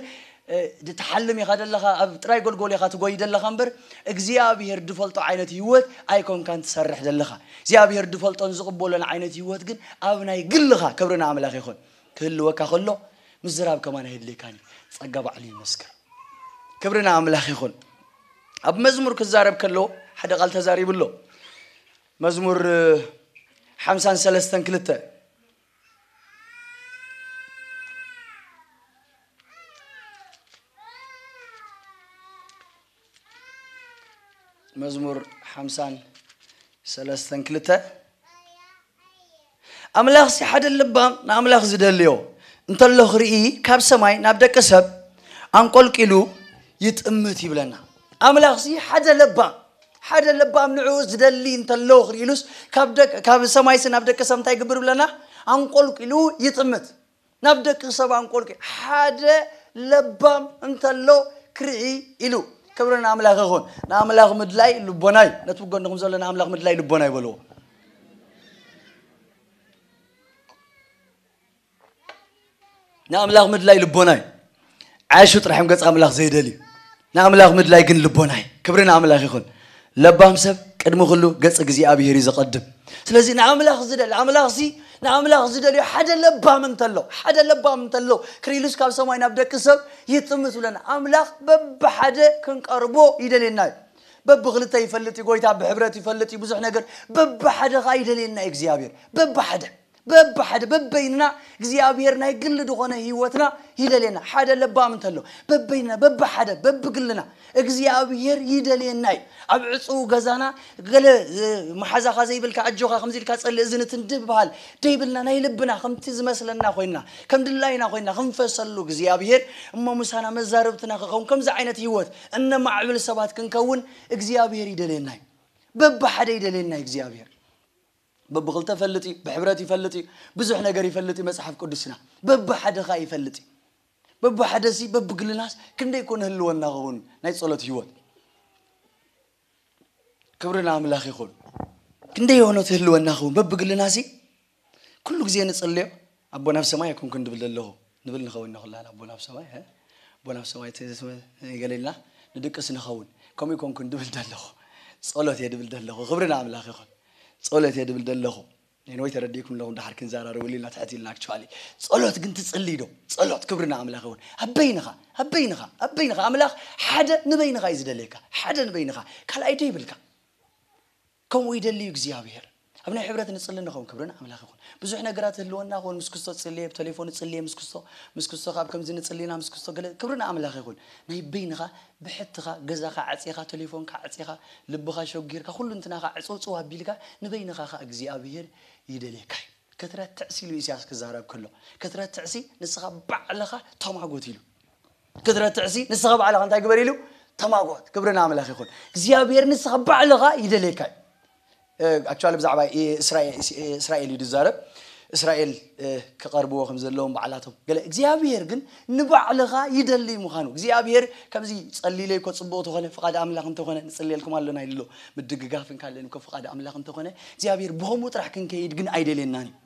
ድትሓልም ኢካ ደለካ ኣብ ጥራይ ጎልጎል ኢካ ትጎይ ደለካ እምበር እግዚኣብሄር ድፈልጦ ዓይነት ሂወት ኣይኮንካን ትሰርሕ ደለካ እግዚኣብሄር ድፈልጦን ዝቅበሎን ዓይነት ሂወት ግን ኣብ ናይ ግልካ ክብሪ ንኣምላክ ይኩን ክህልወካ ከሎ ምዝራብ ከማን ኣየድልየካን እዩ ጸጋ ባዕሉ ይመስክር ክብሪ ንኣምላክ ይኩን ኣብ መዝሙር ክዛረብ ከሎ ሓደ ቃል ተዛሪቡ ኣሎ መዝሙር ሓምሳን ሰለስተን ክልተ መዝሙር ሓምሳን ሰለስተን ክልተ ኣምላኽ ሲ ሓደ ልባም ንኣምላኽ ዝደልዮ እንተሎ ክርኢ ካብ ሰማይ ናብ ደቂ ሰብ ኣንቆልቂሉ ይጥምት ይብለና ኣምላኽሲ ሓደ ለባም ሓደ ለባም ንዕኡ ዝደሊ እንተሎ ክርኢሉስ ካብ ደቂ ካብ ሰማይሲ ናብ ደቂ ሰብ እንታይ ይግብር ብለና ኣንቆልቂሉ ይጥምት ናብ ደቂ ሰብ ኣንቆልቂ ሓደ ለባም እንተሎ ክርኢ ኢሉ ክብሪ ንኣምላኽ ይኹን ንኣምላኽ ምድላይ ልቦና እዩ ነቲ ብጎንኹም ዘሎ ንኣምላኽ ምድላይ ልቦና ይበልዎ ንኣምላኽ ምድላይ ልቦና እዩ ዓሹ ጥራሕም ገጽ ኣምላኽ ዘይደል እዩ ንኣምላኽ ምድላይ ግን ልቦና እዩ ክብሪ ንኣምላኽ ይኹን ለባም ሰብ ቅድሚ ኩሉ ገጽ እግዚኣብሄር እዩ ዘቐድም ስለዚ ንኣምላኽ ዝደሊ ኣምላኽ ሲ ንኣምላኽ ዝደልዮ ሓደ ለባም እንተሎ ሓደ ለባም እንተሎ ክሪሉስ ካብ ሰማይ ናብ ደቂ ሰብ ይጥምት ብለና ኣምላኽ በብሓደ ክንቀርቦ ይደልየና እዩ በብክልተ ይፈልጥ እዩ ጎይታ ብሕብረት ይፈልጥ እዩ ብዙሕ ነገር በብሓደ ከዓ ይደልየና እዩ እግዚኣብሄር በብሓደ በብሓደ በበይንና እግዚኣብሔር ናይ ግሊ ድኾነ ሕይወትና ይደልየና ሓደ ለባም እንተሎ በበይንና በብሓደ በብግልና እግዚኣብሔር ይደልየና እዩ ኣብ ዕፅው ገዛና ገለ መሓዛኻ ዘይብልካ ኣጆኻ ከምዚ ኢልካ ጸሊ እዚ ንትንድብ በሃል ደይብልና ናይ ልብና ከምቲ ዝመስለና ኮይንና ከም ድላይና ኮይንና ክንፈሰሉ እግዚኣብሔር እሞ ምሳና መዛርብትና ክኸውን ከምዚ ዓይነት ሕይወት እነማዕብል ሰባት ክንከውን እግዚኣብሔር ይደልየና እዩ በብሓደ ይደልየና እዩ እግዚኣብሔር በብኽልተ እፈልጥ እዩ፣ ብሕብረት ይፈልጥ እዩ፣ ብዙሕ ነገር ይፈልጥ እዩ መጽሓፍ ቅዱስና። በብሓደ ከኣ ይፈልጥ እዩ። በብሓደሲ በብግልናስ ክንደይ እኮ ንህልወና ኸውን ናይ ጸሎት ህይወት። ክብሪ ንኣምላኽ ይኹን። ክንደይ ዮኖት ህልወና ኸውን በብግልናሲ ኩሉ ግዜ ንጽልዮ ኣቦና ኣብ ሰማይ ኣይኮንኩን ድብል ደለኹ ንብል ንኸውን ኢና ኩላህና ኣቦና ኣብ ሰማይ እ ኣቦና ኣብ ሰማይ እ ገለ ኢልና ንድቅስ ንኸውን ከምኡ ኣይኮንኩን ድብል ደለኹ ጸሎት እየ ድብል ደለኹ ክብሪ ንኣምላኽ ይኹን ጸሎት እየ ድብል ደለኹ ኔንወይ ተረዲእኩም ኣለኹም ድሓር ክንዘራረበሉ ኢልና ትሕት ኢልና ኣክቹዋሊ ጸሎት ግን ትጽልይ ዶ ጸሎት ክብሪ ንኣምላኽ ይኹን ኣብ በይንኻ ኣብ በይንኻ ኣብ በይንኻ ኣምላኽ ሓደ ንበይንኻ እዩ ዝደልየካ ሓደ ንበይንኻ ካልኣይ ደይብልካ ከምኡ ይደሊ እዩ እግዚኣብሔር። ኣብ ናይ ሕብረት ንጽሊ ንኸውን ክብሪ ንኣምላኽ ይኹን። ብዙሕ ነገራት ህልወና ክውን ምስ ክስቶ ጽልየ ብተሌፎን ጽልየ ምስ ክስቶ ምስ ክስቶ ካብ ከምዚ ንጽሊ ኢና ምስ ክስቶ ገለ ክብሪ ንኣምላኽ ይኹን። ናይ በይንኻ ብሕትኻ ገዛኻ ዓጺኻ ተሌፎንካ ዓጺኻ ልብኻ ሸጒርካ ኩሉ እንትናኻ ዕጽውጽው ኣቢልካ ንበይንኻ ከኣ እግዚኣብሔር ይደልየካ እዩ። ክትረትዕሲ ኢሉ ኢሳያስ ክዛረብ ከሎ ክትረትዕሲ ንስኻ ባዕልኻ ተማጎት ኢሉ። ክትረትዕሲ ንስኻ ባዕልኻ እንታይ ግበር ኢሉ ተማጎት ክብሪ ንኣምላኽ ይኹን እግዚኣብሔር ንስኻ ባዕልኻ ይደልየካ እዩ ኣክቹዋሊ ብዛዕባ እስራኤል እዩ ዝዛረብ እስራኤል ክቐርብዎ ከም ዘለዎም ባዕላቶም ገለ እግዚኣብሄር ግን ንባዕልኻ ይደልይ ምዃኑ እግዚኣብሄር ከምዚ ጸሊለይ እኮ ጽቡቕ ተኾነ ፍቓድ ኣምላኽ እንተኾነ ንጽልየልኩም ኣሎና ኢሉ ምድግጋፍ እንካለን እኮ ፍቓድ ኣምላኽ እንተኾነ እግዚኣብሄር ብኸምኡ ጥራሕ ክንከይድ ግን ኣይደልየናን እዩ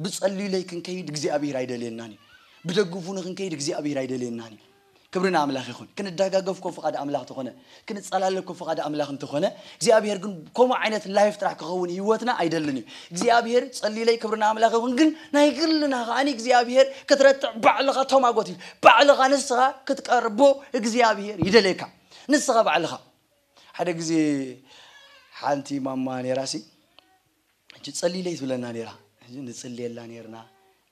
ብጸልዩለይ ክንከይድ እግዚኣብሔር ኣይደልየናን እዩ። ብደግፉኒ ክንከይድ እግዚኣብሔር ኣይደልየናን እዩ። ክብሪ ንኣምላኽ ይኹን። ክንደጋገፍ እኮ ፍቓድ ኣምላኽ ተኾነ፣ ክንጸላለ እኮ ፍቓድ ኣምላኽ እንተኾነ፣ እግዚኣብሔር ግን ከምኡ ዓይነት ላይፍ ጥራሕ ክኸውን ህይወትና ኣይደልን እዩ። እግዚኣብሔር ጸልዩለይ ክብሪ ንኣምላኽ ይኹን፣ ግን ናይ ግልና ከዓኒ እግዚኣብሔር ክትረትዕ ባዕልኻ ተማጎት እዩ። ባዕልኻ ንስኻ ክትቀርቦ እግዚኣብሔር ይደልየካ። ንስኻ ባዕልኻ ሓደ ግዜ ሓንቲ ማማ ነይራሲ ሕጂ ጸልይለይ ትብለና ኔራ ሕጂ ንጽልየላ ኔርና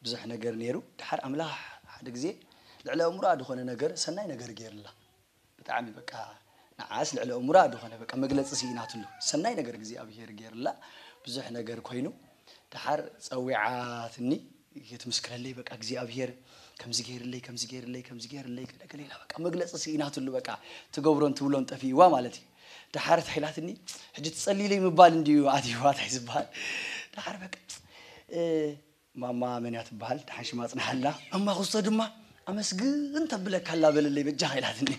ብዙሕ ነገር ኔሩ ድሓር ኣምላኽ ሓደ ግዜ ልዕሊ ኣእምሮኣ ድኾነ ነገር ሰናይ ነገር ጌርላ ብጣዕሚ በቃ ንዓስ ልዕሊ ኣእምሮኣ ድኾነ በቃ መግለጺ ሲኢናትሉ ሰናይ ነገር እግዚኣብሄር ጌርላ ብዙሕ ነገር ኮይኑ ድሓር ጸዊዓትኒ የትምስክረለይ በቃ እግዚኣብሄር ከምዚ ገይርለይ ከምዚ ገይርለይ ከምዚ ገይርለይ ገለ ገለ ኢላ በቃ መግለጺ ስኢናትሉ በቃ ትገብሮን ትብሎን ጠፊእዋ ማለት እዩ ደሓር እንታይ ኢላትኒ ሕጂ ትጸልይለይ ምባል እንድዩ ኣትይዋ እንታይ ዝበሃል ደሓር በቃ ማማ መን እያ ትበሃል ደሓን ሽማ ጽንሓላ ማማ ክስቶ ድማ ኣመስግን ተብለካ ኣላ በለለይ በጃኻ ኢላትኒ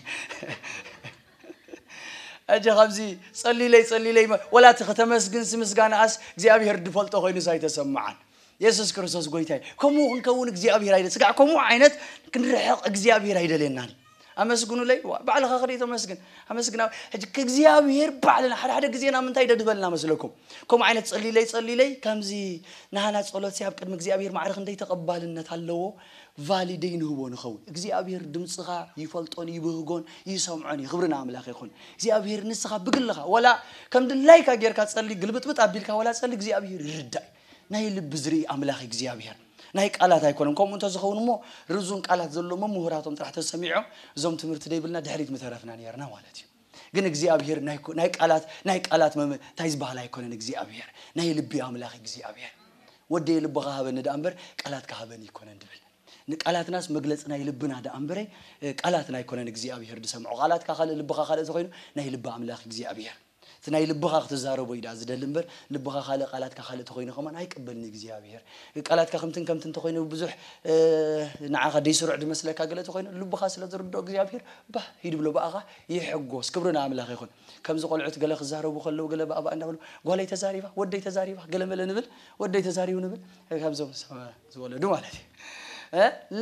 ሕጂ ከምዚ ጸልይለይ ጸልይለይ ወላ እቲ ከተመስግንሲ ምስጋናኣስ እግዚኣብሄር ድፈልጦ ኮይኑስ ኣይተሰምዓን የሱስ ክርስቶስ ጎይታ እዩ ከምኡ ክንከውን እግዚኣብሄር ኣይደ ስጋዕ ከምኡ ዓይነት ክንርሕቕ እግዚኣብሄር ኣይደልየናን እዩ ኣመስግኑለይ ዋ ባዕልኻ ክደይ ተመስግን ኣመስግና ሕጂ ከእግዚኣብሄር ባዕልና ሓደ ሓደ ግዜና ምንታይ ደድበልና መስለኩም ከምኡ ዓይነት ጸሊለይ ጸሊለይ ከምዚ ናህና ጸሎት ኣብ ቅድሚ እግዚኣብሄር ማዕረ ክንደይ ተቐባልነት ኣለዎ ቫሊደይ ንህቦ ንኸውን እግዚኣብሄር ድምፅኻ ይፈልጦን ይብህጎን ይሰምዖን እዩ ክብሪ ንኣምላኽ ይኹን እግዚኣብሄር ንስኻ ብግልኻ ወላ ከም ድላይካ ጌርካ ጸሊ ግልብጥብጥ ኣቢልካ ወላ ጸሊ እግዚኣብሄር ይርዳእ ናይ ልቢ ዝርኢ ኣምላኽ እግዚኣብሄር ናይ ቃላት ኣይኮነን ከምኡ እንተዝኸውን እሞ ርዙን ቃላት ዘለዎም ምሁራቶም ጥራሕ ተሰሚዖም እዞም ትምህርቲ ደይብልና ድሕሪት ምተረፍና ነርና ማለት እዩ ግን እግዚኣብሄር ናይ ቃላት ናይ ቃላት እንታይ ዝበሃል ኣይኮነን እግዚኣብሄር ናይ ልቢ ኣምላኽ እግዚኣብሄር ወደየ ልብኻ ሃበኒ ደኣ እምበር ቃላትካ ሃበኒ ይኮነን ድብል ንቃላትናስ መግለፂ ናይ ልብና ደኣ እምበረ ቃላትና ኣይኮነን እግዚኣብሄር ዝሰምዖ ቃላትካ ካልእ ልብኻ ካልእ ተኮይኑ ናይ ልቢ ኣምላኽ እግዚኣብሄር እቲ ናይ ልብኻ ክትዛረቦ እዩ ደኣ ዝደሊ እምበር ልብኻ ካልእ ቃላትካ ካልእ ተኮይኑ ከማን ኣይቅበልን እግዚኣብሄር ቃላትካ ከምትን ከምትን እንተኮይኑ ብዙሕ ንዓኻ ደይስሩዕ ድመስለካ ገለ ተኮይኑ ልብኻ ስለ ዝርድኦ እግዚኣብሄር ባህ ይድብሎ ብኣኻ ይሕጎስ ክብሪ ንኣምላኽ ይኹን ከምዚ ቆልዑት ገለ ክዛረቡ ከለዉ ገለ ባእባእ እንዳበሉ ጓለይ ተዛሪባ ወደይ ተዛሪባ ገለ መለ ንብል ወደይ ተዛሪቡ ንብል ካብዞም ዝወለዱ ማለት እዩ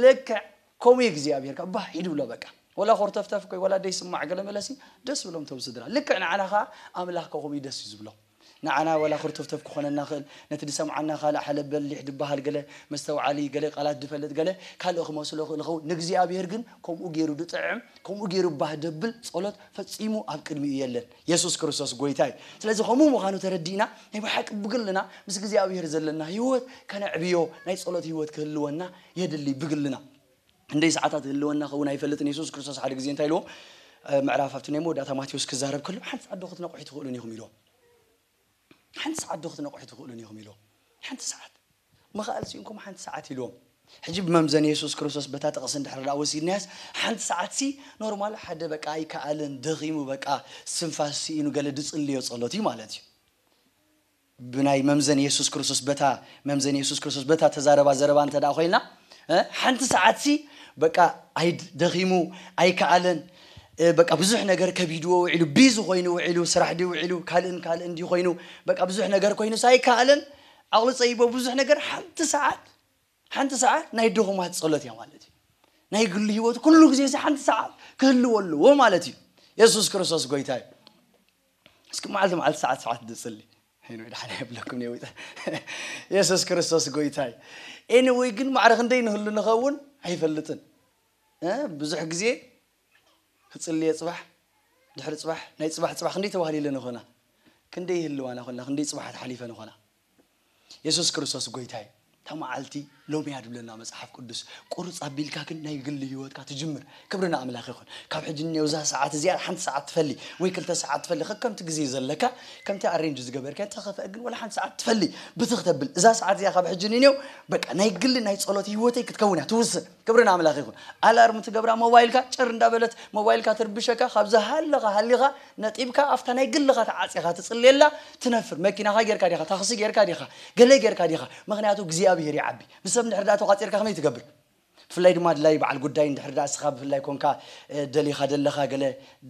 ልክዕ ከምኡ እዩ እግዚኣብሔር ከኣ ባህ ይድብሎ በቃ ወላ ኮርተፍተፍ እኮ እዩ ወላ ደይስማዕ ገለመለ ሲ ደስ ይብሎም እቶም ስድራ ልክዕ ንዓና ከኣ ኣምላኽ ከኣ ከምኡ እዩ ደስ እዩ ዝብሎ ንዓና ወላ ክርተፍተፍ ክኾነና ይኽእል ነቲ ዝሰምዓና ካልእ ሓለብ በሊሕ ድበሃል ገለ መስተውዓሊ ገለ ቃላት ድፈልጥ ገለ ካልእ ክመስሎ ይኽእል ይኸውን ንእግዚኣብሔር ግን ከምኡ ገይሩ ድጥዕም ከምኡ ገይሩ ባህ ደብል ጸሎት ፈጺሙ ኣብ ቅድሚኡ የለን የሱስ ክርስቶስ ጎይታ እዩ ስለዚ ከምኡ ምዃኑ ተረዲእና ናይ ብሓቂ ብግልና ምስ እግዚኣብሔር ዘለና ህይወት ከነዕብዮ ናይ ጸሎት ህይወት ክህልወና የድሊ ብግልና ክንደይ ሰዓታት ይህልወና ከውን ኣይፈልጥን የሱስ ክርስቶስ ሓደ ግዜ እንታይ ኢልዎም ምዕራፍ ኣብቲ ናይ መወዳእታ ማቴዎስ ክዛረብ ከሎ ሓንቲ ሰዓት ዶ ክትነቕሑ ትኽእሉን ኢኹም ኢልዎም ሓንቲ ሰዓት ዶ ክትነቕሑ ትኽእሉን ኢኹም ኢልዎም ሓንቲ ሰዓት መኻእል ሲእንኩም ሓንቲ ሰዓት ኢልዎም ሕጂ ብመምዘኒ የሱስ ክርስቶስ በታ ጥቕሲ እንድሕር ደኣ ወሲድናያስ ሓንቲ ሰዓት ሲ ኖርማል ሓደ በቃ ኣይከኣልን ደኺሙ በቃ ስንፋስ ስኢኑ ገለ ድጽልዮ ጸሎት እዩ ማለት እዩ ብናይ መምዘኒ የሱስ ክርስቶስ በታ መምዘኒ የሱስ ክርስቶስ በታ ተዛረባ ዘረባ እንተደኣ ኮይና እ ሓንቲ ሰዓትሲ በቃ ኣይ ደኺሙ ኣይከኣለን እ በቃ ብዙሕ ነገር ከቢድዎ ውዒሉ ቢዚ ኮይኑ ውዒሉ ስራሕ ድዩ ውዒሉ ካልእን ካልእን ድዩ ኮይኑ በቃ ብዙሕ ነገር ኮይኑስ ኣይከኣለን ዓቕሉ ጸይቦ ብዙሕ ነገር ሓንቲ ሰዓት ሓንቲ ሰዓት ናይ ድኹማት ጸሎት እያ ማለት እዩ ናይ ግሉ ህይወት ኩሉ ግዜ እዚ ሓንቲ ሰዓት ክህልዎ ኣለዎ ማለት እዩ የሱስ ክርስቶስ ጎይታ እዩ እስኪ መዓልቲ መዓልቲ ሰዓት ሰዓት ድጽሊ ሄኖይ ድሓን የብለኩም ነዊጠ የሱስ ክርስቶስ ጎይታ እዩ ኤኒወይ ግን ማዕረ ክንደይ ንህሉ ንኸውን ኣይፈልጥን ብዙሕ ግዜ ክጽልየ ጽባሕ ድሕሪ ጽባሕ ናይ ጽባሕ ጽባሕ ክንደይ ተባህሊለ ንኾና ክንደይ ህልዋና ኮና ክንደይ ጽባሓት ሓሊፈ ንኾና የሱስ ክርስቶስ ጎይታ እዩ። እታ መዓልቲ ሎሚ እያ ድብለና መጽሓፍ ቅዱስ። ቁርጽ ኣቢልካ ግን ናይ ግሊ ህይወትካ ትጅምር። ክብሪ ንኣምላኽ ይኹን። ካብ ሕጂ ንኔው እዛ ሰዓት እዚኣ ሓንቲ ሰዓት ትፈሊ ወይ ክልተ ሰዓት ትፈሊ ከከምቲ ግዜ ዘለካ ከምቲ ኣሬንጅ ዝገበርካዮ እንተተኸፍአ ግን ወላ ሓንቲ ሰዓት ትፈሊ ብትኽ ተብል እዛ ሰዓት እዚኣ ካብ ሕጂ ንኔው በቃ ናይ ግሊ ናይ ጸሎት ህይወተይ ክትከውን እያ ትውስን። ክብሪ ንኣምላኽ ይኹን ኣላርም ትገብራ ሞባይልካ ጭር እንዳበለት ሞባይልካ ትርብሸካ ካብ ዝሃለኻ ሃሊኻ ነጢብካ ኣብታ ናይ ግልኻ ተዓጽኻ ትጽልየላ ትነፍር መኪናኻ ጌርካ ዲኻ ታኽሲ ጌርካ ዲኻ ገለ ጌርካ ዲኻ ምኽንያቱ እግዚኣብሄር ይዓቢ ብሰብ እንድሕር ደኣ ተቛጺርካ ከመይ ትገብር ብፍላይ ድማ ኣድላይ በዓል ጉዳይ እንድሕር ደኣ እስኻ ብፍላይ ኮንካ ደሊኻ ደለኻ ገለ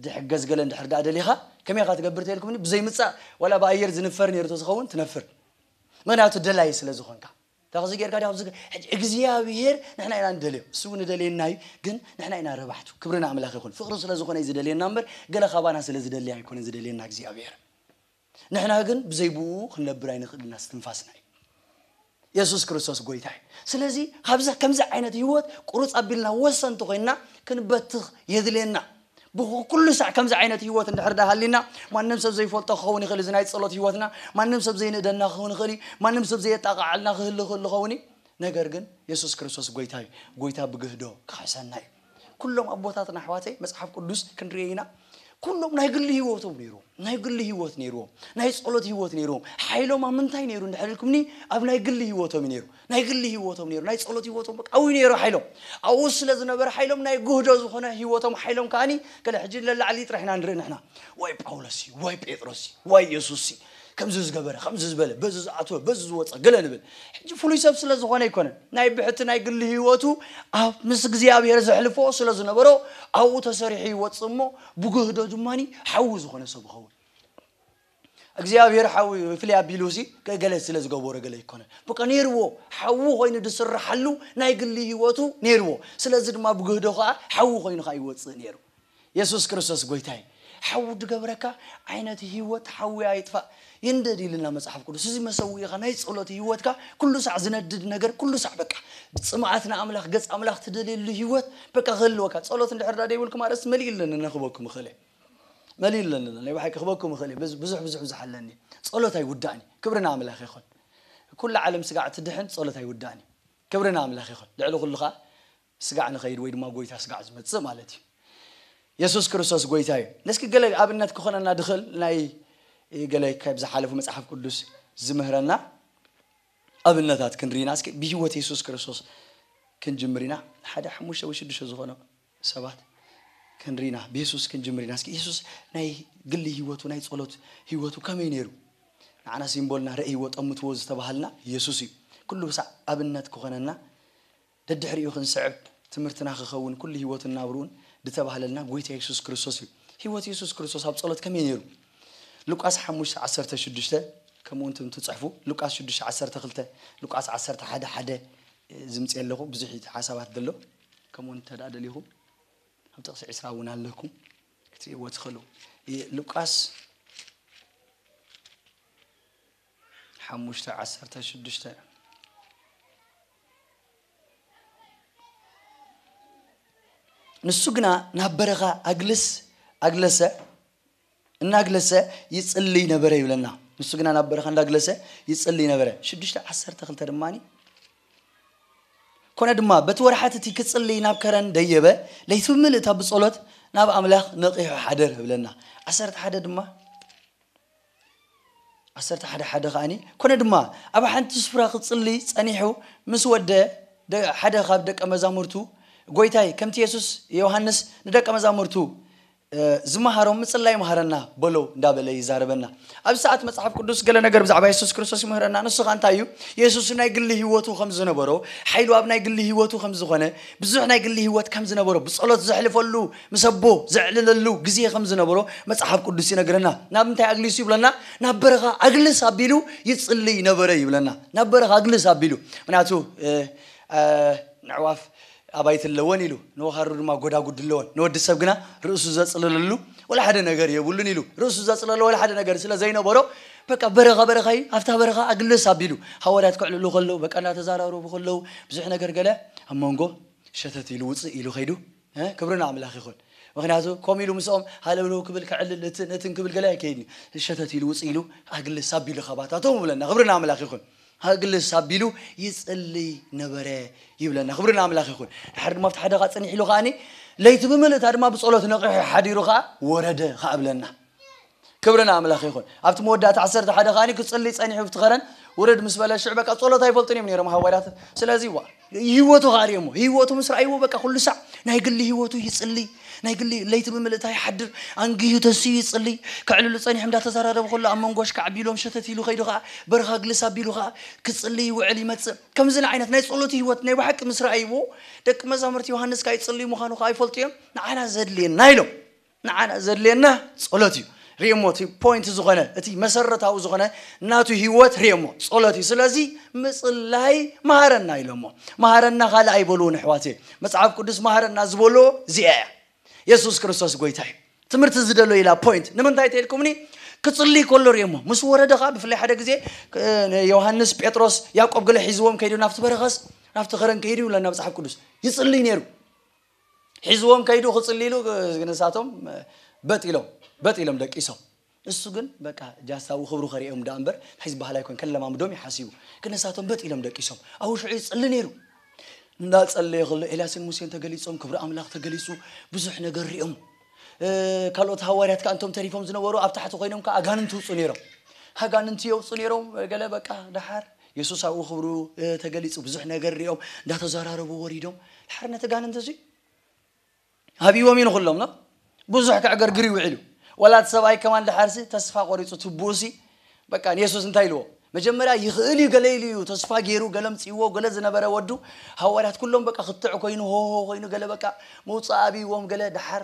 ድሕገዝ ገለ እንድሕር ደኣ ደሊኻ ከመይ ኢኻ ትገብር ተልኩምኒ ብዘይምጻእ ዋላ ብኣየር ዝንፈር ኔሩ ተዝኸውን ትነፍር ምኽንያቱ ደላይ ስለ ዝኾንካ ካብዚ ጌርካ ዲኻ ኣብዚ ሕጂ እግዚኣብሄር ንሕና ኢና ንደልዮ ንሱ ውን ይደልየና እዩ ግን ንሕና ኢና ረባሕቱ ክብሪ ንኣምላኽ ይኹን ፍቕሪ ስለ ዝኾነ እዩ ዝደልየና እምበር ገለ ካባና ስለ ዝደሊ ኣይኮነን ዝደልየና እግዚኣብሄር ንሕና ግን ብዘይ ብኡ ክንነብር ኣይንኽእልን ኢና እስትንፋስና እዩ የሱስ ክርስቶስ ጎይታ እዩ ስለዚ ካብዚ ከምዚ ዓይነት ህይወት ቁሩጽ ኣቢልና ወሰንቲ ኮይንና ክንበትኽ የድልየና ብኩ ኩሉ ሳዕ ከምዚ ዓይነት ሂወት እንድሕር ድኣ ሃልዩና ማንም ሰብ ዘይፈልጦ ክኸውን ይኽእል እዚ ናይ ጸሎት ሂወትና ማንም ሰብ ዘይንእደና ክኸውን ይኽእል እዩ ማንም ሰብ ዘየጣቕዓልና ክህሉ ክህሉ ክኸውን እዩ ነገር ግን የሱስ ክርስቶስ ጎይታ እዩ ጎይታ ብግህዶ ክኽሕሰና እዩ ኩሎም ኣቦታትና ኣሕዋተይ መጽሓፍ ቅዱስ ክንርኢ ኢና ኩሎም ናይ ግሊ ሂወቶም ነይሮም ናይ ግሊ ሂወት ነይሮም ናይ ጸሎት ሂወት ነይሮም ሓይሎም ኣብ ምንታይ ነይሩ እንድሕር ኢልኩምኒ ኣብ ናይ ግሊ ሂወቶም እዩ ነይሩ ናይ ግሊ ሂወቶም ነይሩ ናይ ጸሎት ሂወቶም በቃ ኣውይ ነይሩ ሓይሎም ኣብኡ ስለ ዝነበረ ሓይሎም ናይ ጉህዶ ዝኾነ ሂወቶም ሓይሎም ከኣኒ ገለ ሕጂ ለላዕሊ ጥራሕ ኢና ንርኢ ንሕና ዋይ ጳውሎስ ሲ ዋይ ጴጥሮስ ሲ ዋይ የሱስ ሲ ከምዚ ዝገበረ ከምዚ ዝበለ በዚ ዝኣተወ በዚ ዝወጸ ገለ ንብል ሕጂ ፍሉይ ሰብ ስለ ዝኾነ ኣይኮነን ናይ ብሕቲ ናይ ግሊ ሂወቱ ኣብ ምስ እግዚኣብሄር ዘሕልፎ ስለ ዝነበሮ ኣብኡ ተሰሪሑ ይወጽእ እሞ ብጉህዶ ድማኒ ሓዊ ዝኾነ ሰብ ይኸውን እግዚኣብሔር ሓው እዩ ፍልይ ኣቢሉ ሲ ገለ ስለ ዝገበሮ ገለ ኣይኮነን በቃ ነይርዎ ሓው ኮይኑ ዝስርሓሉ ናይ ግሊ ህይወቱ ነይርዎ ስለዚ ድማ ብግህዶ ከኣ ሓው ኮይኑ ከኣ ይወጽእ ነይሩ የሱስ ክርስቶስ ጎይታ እዩ ሓው ዝገብረካ ዓይነት ህይወት ሓዊ ኣይጥፋእ ይንደድ ኢልና መጽሓፍ ቅዱስ እዚ መሰዊኢኻ ናይ ጸሎት ህይወትካ ኩሉ ሳዕ ዝነድድ ነገር ኩሉ ሳዕ በቃ ጽምኣት ንኣምላኽ ገጽ ኣምላኽ ትደልየሉ ህይወት በቃ ክህልወካ ጸሎት እንድሕር ዳ ደይብልኩም ኣርእስቲ መሊኡ ኣለኒ ነኽበኩም እኽእል መሊሉ ለለሎ ናይ ባሓቂ ክበኩም ይክእል እየ ብዙሕ ብዙሕ ብዙሕ ኣለኒ ጸሎት ኣይውዳእን እዩ ክብሪ ንኣምላክ ይኩን ኩላ ዓለም ስጋዕ ትድሕን ጸሎት ኣይውዳእን እዩ ክብሪ ንኣምላክ ይኩን ልዕሊ ኩሉ ከኣ ስጋዕ ንከይድ ወይ ድማ ጎይታ ስጋዕ ዝመጽእ ማለት እዩ የሱስ ክርስቶስ ጎይታ እዩ እስኪ ገለ ኣብነት ክኾነና ድኽእል ናይ ገለ ካብ ዝሓለፉ መጽሓፍ ቅዱስ ዝምህረና ኣብነታት ክንርኢና እስኪ ብህይወት የሱስ ክርስቶስ ክንጅምር ኢና ሓደ ሓሙሽተ ወይ ሽዱሽተ ዝኾነ ሰባት ክንሪ ኢና ብየሱስ ክንጅምር ኢና እስኪ የሱስ ናይ ግሊ ሂወቱ ናይ ጸሎት ሂወቱ ከመይ ነይሩ ንዓና ሲምቦልና ረእይዎ ጠምትዎ ዝተባሃልና የሱስ እዩ ኩሉ ብሳዕ ኣብነት ክኾነና ደድሕሪኡ ክንስዕብ ትምህርትና ክኸውን ኩሉ ሂወቱን ናብርኡን ድተባህለልና ጎይታ የሱስ ክርስቶስ እዩ ሂወት የሱስ ክርስቶስ ኣብ ጸሎት ከመይ ነይሩ ሉቃስ ሓሙሽተ ዓሰርተ ሽዱሽተ ከምኡ እንት ትጽሕፉ ሉቃስ ሽዱሽተ ዓሰርተ ክልተ ሉቃስ ዓሰርተ ሓደ ሓደ ዝምጽእ ኣለኹ ብዙሕ ሓሳባት ደሎ ከምኡ እንተ ደሊኹም ኣብ ጥቕሲ ዕስራ እውን ኣለኩም ክትርእይዎ ትኽእሉ ሉቃስ ሓሙሽተ ዓሰርተ ሽዱሽተ ንሱ ግና ናብ በረኻ ኣግልስ ኣግለሰ እናግለሰ ይጽልይ ነበረ ይብለና ንሱ ግና ናብ በረኻ እንዳግለሰ ይጽልይ ነበረ ሽዱሽተ ዓሰርተ ክልተ ድማ ኮነ ድማ በቲ ወርሓት እቲ ክጽልይ ናብ ከረን ደየበ ለይቲ ብምልእታ ብጸሎት ናብ ኣምላኽ ነቒሑ ሓደር ይብለና ዓሰርተ ሓደ ድማ ዓሰርተ ሓደ ሓደ ከዓኒ ኮነ ድማ ኣብ ሓንቲ ስፍራ ክጽልይ ጸኒሑ ምስ ወደ ሓደ ካብ ደቀ መዛሙርቱ ጎይታይ ከምቲ የሱስ ዮሃንስ ንደቀ መዛሙርቱ ዝመሃሮም ምጽላይ ምሃረና በሎ እንዳበለ ይዛረበና። ኣብዚ ሰዓት መጽሓፍ ቅዱስ ገለ ነገር ብዛዕባ የሱስ ክርስቶስ ይምህረና ንሱ ከኣ እንታይ እዩ የሱስ ናይ ግሊ ሂወቱ ከም ዝነበሮ ሓይሉ ኣብ ናይ ግሊ ሂወቱ ከም ዝኾነ ብዙሕ ናይ ግሊ ሂወት ከም ዝነበሮ ብጸሎት ዘሕልፈሉ ምስ ኣቦ ዘዕልለሉ ግዜ ከም ዝነበሮ መጽሓፍ ቅዱስ ይነግረና ናብ እንታይ ኣግሊሱ ይብለና ናብ በረኻ ኣግልስ ኣቢሉ ይጽልይ ነበረ ይብለና ናብ በረኻ ኣግልስ ኣቢሉ ምክንያቱ ነዕዋፍ ኣባይቲ ኣለወን ኢሉ፣ ንወኻሩ ድማ ጎዳጉዲ ኣለወን፣ ንወዲ ሰብ ግና ርእሱ ዘጽልለሉ ወላ ሓደ ነገር የብሉን ኢሉ፣ ርእሱ ዘጽለሎ ወላ ሓደ ነገር ስለ ዘይነበሮ በቃ በረኻ በረኻ ኢዩ፣ ኣብታ በረኻ ኣግልስ ኣቢሉ ሃዋርያት ከዕልሉ ከለዉ በቃ እናተዛራረቡ ከለዉ ብዙሕ ነገር ገለ ኣብ መንጎ ሸተት ኢሉ ውጽእ ኢሉ ከይዱ ክብሪ ንኣምላኽ ይኹን ምኽንያቱ ከምኡ ኢሉ ምስኦም ሃለውለው ክብል ከዕልል እትን እትን ክብል ገለ ኣይከይድን ኢዩ ሸተት ኢሉ ውጽእ ኢሉ ኣግልስ ኣቢሉ ካባታቶም ይብለና ክብሪ ንኣምላኽ ይኹን ሀግልስ ኣቢሉ ይጽልይ ነበረ ይብለና ክብሪ ንኣምላኽ ይኹን ድሓር ድማ ኣብቲ ሓደኻ ጽኒሕ ኢሉ ከኣኒ ለይቲ ብምልእታ ድማ ብጸሎት ነቒሑ ሓዲሩ ከኣ ወረደ ከኣ ብለና ክብሪ ንኣምላኽ ይኹን ኣብቲ መወዳእታ ዓሰርተ ሓደ ከኣኒ ክጽልይ ጸኒሑ ብቲ ከረን ውርድ ምስ በለ ሽዕ በቃ ጸሎት ኣይፈልጡን እዮም ነይሮም ሃዋርያት ስለዚ ዋ ህይወቱ ከኣ ርእዮሞ ህይወቱ ምስ ረኣይዎ በቃ ኩሉ ሳዕ ናይ ግሊ ህይወቱ ይጽልይ ናይ ግሊ ለይቲ ብምልእታ ይሓድር ኣንጊሁ ተንሲኡ ይጽልይ ከዕልሉ ጸኒሖም እንዳተዛራረቡ ከሎ ኣብ መንጎ ኣሽካዕ ኣቢሎም ሸተት ኢሉ ከይዱ ከኣ በርኻ ግልስ ኣቢሉ ከኣ ክጽልይ ይውዕል ይመጽእ ከምዚ ዓይነት ናይ ጸሎት ህይወት ናይ ብሓቂ ምስ ረኣይዎ ደቂ መዛሙርቲ ዮሃንስ ከኣ ይጽልዩ ምዃኑ ከኣ ይፈልጡ እዮም ንዓና ዘድልየና ኢሎም ንዓና ዘድልየና ጸሎት እዩ ሪኦሞ እቲ ፖይንት ዝኾነ እቲ መሰረታዊ ዝኾነ ናቱ ህይወት ሪኦሞ ጸሎት እዩ ስለዚ ምጽላይ መሃረና ኢሎሞ መሃረና ካልእ ኣይበልዎን ኣሕዋት መጽሓፍ ቅዱስ መሃረና ዝበሎ እዚኣ እያ የሱስ ክርስቶስ ጎይታ እዩ ትምህርቲ ዝደሎ ኢላ ፖይንት ንምንታይ ተልኩምኒ ክጽልይ ከሎ ሪኦሞ ምስ ወረደ ከዓ ብፍላይ ሓደ ግዜ ዮሃንስ ጴጥሮስ ያዕቆብ ገለ ሒዝዎም ከይዱ ናብቲ በረኸስ ናብቲ ኸረን ከይዱ ይብለና መጽሓፍ ቅዱስ ይጽልይ ነይሩ ሒዝዎም ከይዱ ክጽሊ ኢሉ ንሳቶም በጥ ኢሎም በጥ ኢሎም ደቂሶም እሱ ግን በቃ ጃሳዊ ክብሩ ከሪኦም ዳኣ እምበር ሕዚ ባህል ኣይኮን ከለማምዶም እዩ ሓሲቡ ግን ንሳቶም በጥ ኢሎም ደቂሶም ኣብኡ ሽዑ ይጽሊ ነይሩ እንዳጸለየ ከሎ ኤልያስን ሙሴን ተገሊጾም ክብሪ ኣምላኽ ተገሊጹ ብዙሕ ነገር ሪኦም ካልኦት ሃዋርያት ከኣ እቶም ተሪፎም ዝነበሩ ኣብ ታሕቲ ኮይኖም ከኣ ኣጋንንቲ ይውጹ ነይሮም ኣጋንንቲ የውጹ ነይሮም ገለ በቃ ደሓር የሱስ ኣብኡ ክብሩ ተገሊጹ ብዙሕ ነገር ሪኦም እንዳተዘራረቡ ወሪዶም ደሓር ነቲ ጋንንቲ እዚ ሃቢዎም እዩ ንኹሎም ኖ ብዙሕ ከዕገርግር ይውዒሉ ወላ እቲ ሰብኣይ ከማን ደሓርሲ ተስፋ ቆሪጹ ትቡኡሲ በቃ ንየሱስ እንታይ ኢልዎ? መጀመርያ ይኽእል እዩ ገለ ኢሉ እዩ ተስፋ ጌሩ ገለ ኣምጺእዎ ገለ ዝነበረ ወዱ ሃዋርያት ኩሎም በቃ ክትዕ ኮይኑ ሆሆ ኮይኑ ገለ በቃ ምውጻእ ኣብይዎም ገለ ደሓር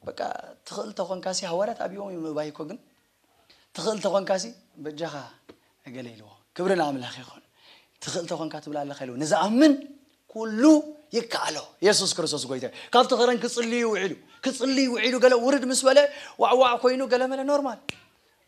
በቃ ትኽእል ተኾንካሲ ሃዋርያት ኣብይዎም እዮም ምእባይ እኮ ግን ትኽእል ተኾንካሲ በጃኻ ገለ ኢልዎ ክብሪ ንኣምላኽ ይኹን ትኽእል ተኾንካ ትብላ ኣለኻ ኢልዎ ንዝኣምን ኩሉ ይከኣሎ የሱስ ክርስቶስ ጎይታ ካብቲ ከረን ክጽልዩ ውዒሉ ክጽልዩ ውዒሉ ገለ ውርድ ምስ በለ ዋዕዋዕ ኮይኑ ገለ መለ ኖርማል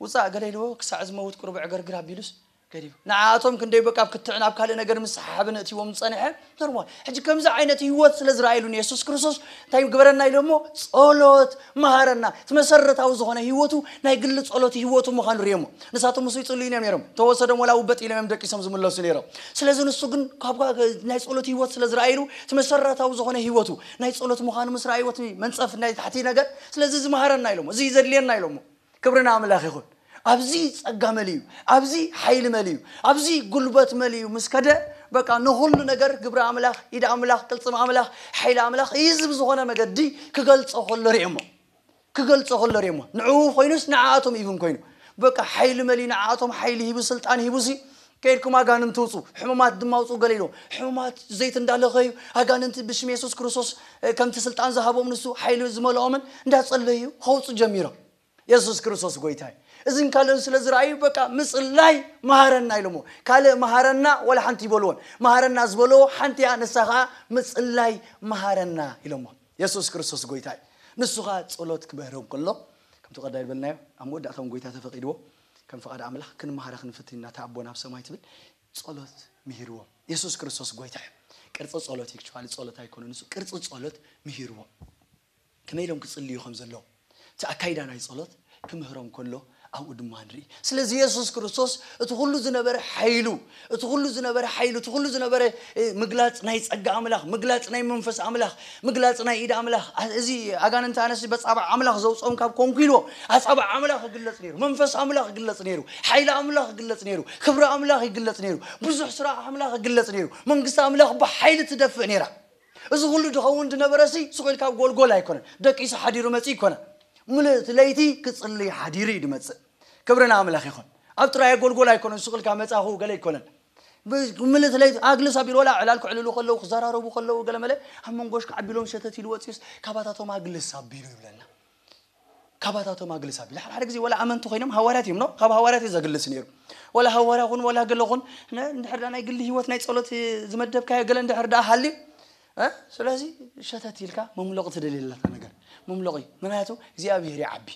ውጻእ ገለ ኢልዎ ክሳዕ ዝመውት ቁሩብ ዕግርግር ኣቢሉስ ገዲፉ። ንዓኣቶም ክንደይ በቃ ኣብ ክትዕ ናብ ካልእ ነገር ምስሓሓብን እእትይዎም ዝጸንሐ ኖርማል ሕጂ ከምዚ ዓይነት ህይወት ስለ ዝረኣየሉ ንየሱስ ክርስቶስ እንታይ ግበረና ኢሉ እሞ ጸሎት መሃረና እቲ መሰረታዊ ዝኾነ ህይወቱ ናይ ግሊ ጸሎት ህይወቱ ምዃኑ ርእየሞ ንሳቶም ምስኡ ይጽልዩን እዮም ነይሮም ተወሰዶም ወላ ውበጥ ኢሎም እዮም ደቂሶም ዝምለሱ ነይሮም ስለዚ ንሱ ግን ካብ ናይ ጸሎት ህይወት ስለ ዝረኣየሉ እቲ መሰረታዊ ዝኾነ ህይወቱ ናይ ጸሎት ምዃኑ ምስ ረኣይዎ እቲ መንጸፍ ናይ ታሕቲ ነገር ስለዚ እዚ መሃረና ኢሎሞ እዚ ዘድልየና ኢሎሞ ክብሪ ንኣምላኽ ይኹን። ኣብዚ ጸጋ መሊኡ፣ ኣብዚ ሓይሊ መሊኡ፣ ኣብዚ ጉልበት መሊኡ ምስ ከደ በቃ ንኹሉ ነገር ግብሪ ኣምላኽ፣ ኢድ ኣምላኽ፣ ቅልጽም ኣምላኽ፣ ሓይሊ ኣምላኽ ኢዚ ብዝኾነ መገዲ ክገልጾ ከሎ ርኤሞ። ክገልጾ ከሎ ርኤሞ። ንዕኡ ኮይኑስ ንዓኣቶም ኢቭን ኮይኑ በቃ ሓይሊ መሊኡ ንዓኣቶም ሓይሊ ሂቡ ስልጣን ሂቡሲ ከይድኩም ኣጋንንቲ ውጹ ሕሙማት ድማ ውጹ ገለ ኢልዎም ሕሙማት ዘይት እንዳለኸዩ ኣጋንንቲ ብሽም የሱስ ክርስቶስ ከምቲ ስልጣን ዝሃቦም ንሱ ሓይሊ ዝመልኦምን እንዳጸለዩ ከውጹ ጀሚሮም የሱስ ክርስቶስ ጎይታ እዩ እዝን ካልእን ስለ ዝረኣዩ በቃ ምጽላይ መሃረና ኢሎሞ ካልእ መሃረና ወላ ሓንቲ ይበልዎን መሃረና ዝበለዎ ሓንቲያ ንሳ ከዓ ምጽላይ መሃረና ኢሎሞ የሱስ ክርስቶስ ጎይታ እዩ ንሱ ከዓ ጸሎት ክምህሮም ከሎ ከምቲ ቀዳይ ዝበልናዮ ኣብ መወዳእታውን ጎይታ ተፈቂድዎ ከም ፍቃድ ኣምላኽ ክንመሃረ ክንፍትን ኢና እታ ኣቦና ኣብ ሰማይ ትብል ጸሎት ምሂርዎም የሱስ ክርስቶስ ጎይታ እዩ ቅርጺ ጸሎት ኤክቹዋሊ ጸሎት ኣይኮነን ንሱ ቅርጺ ጸሎት ምሂርዎም ከመይ ኢሎም ክጽልዩ ከም ዘለዎም እቲ ኣካይዳ ናይ ጸሎት ክምህሮም ከሎ ኣብኡ ድማ ንርኢ ስለዚ የሱስ ክርስቶስ እቲ ኩሉ ዝነበረ ሓይሉ እቲ ኩሉ ዝነበረ ሓይሉ እቲ ኩሉ ዝነበረ ምግላጽ ናይ ጸጋ ኣምላኽ ምግላጽ ናይ መንፈስ ኣምላኽ ምግላጽ ናይ ኢድ ኣምላኽ እዚ ኣጋንንቲ ኣነሲ በጻብዕ ኣምላኽ ዘውጾም ካብ ኮንኩ ኢልዎ ኣጻብዕ ኣምላኽ ይግለጽ ነይሩ መንፈስ ኣምላኽ ይግለጽ ነይሩ ሓይሊ ኣምላኽ ይግለጽ ነይሩ ክብሪ ኣምላኽ ይግለጽ ነይሩ ብዙሕ ስራሕ ኣምላኽ ይግለጽ ነይሩ መንግስቲ ኣምላኽ ብሓይሊ ትደፍእ ነይራ እዚ ኩሉ ድኸውን ድነበረሲ ስቁ ኢልካ ጎልጎል ኣይኮነን ደቂሱ ሓዲሩ መጺ ይኮነ ምልእቲ ለይቲ ክጽልይ ሓዲሩ እዩ ድመጽእ ክብሪ ንኣምላኽ ይኹን። ኣብ ጥራይ ኣጎልጎል ኣይኮነን ሱቕ ኢልካ መጻኹ ገለ ኣይኮነን። ምልእ ስለይ ኣግልስ ኣቢሉ ወላ ዕላል ክዕልሉ ከለዉ ክዘራረቡ ከለዉ ገለ መለ ኣብ መንጎሽ ክዓቢ ኢሎም ሸተት ኢሉ ወጺኡስ ካባታቶም ኣግልስ ኣቢሉ ይብለና። ካባታቶም ኣግልስ ኣቢሉ ሓደ ሓደ ግዜ ወላ ኣመንቲ ኮይኖም ሃዋርያት እዮም ኖ ካብ ሃዋርያት እዩ ዘግልስ ነይሩ ወላ ሃዋርያ ኹን ወላ ገለ ኹን እንድሕር ደኣ ናይ ግሊ ህይወት ናይ ጸሎት ዝመደብካዮ ገለ እንድሕር ደኣ ሃልዩ ስለዚ ሸተት ኢልካ መምሎቕ ትደልየለካ ነገር መምሎቕ እዩ ምክንያቱ እግዚኣብሄር ይዓቢ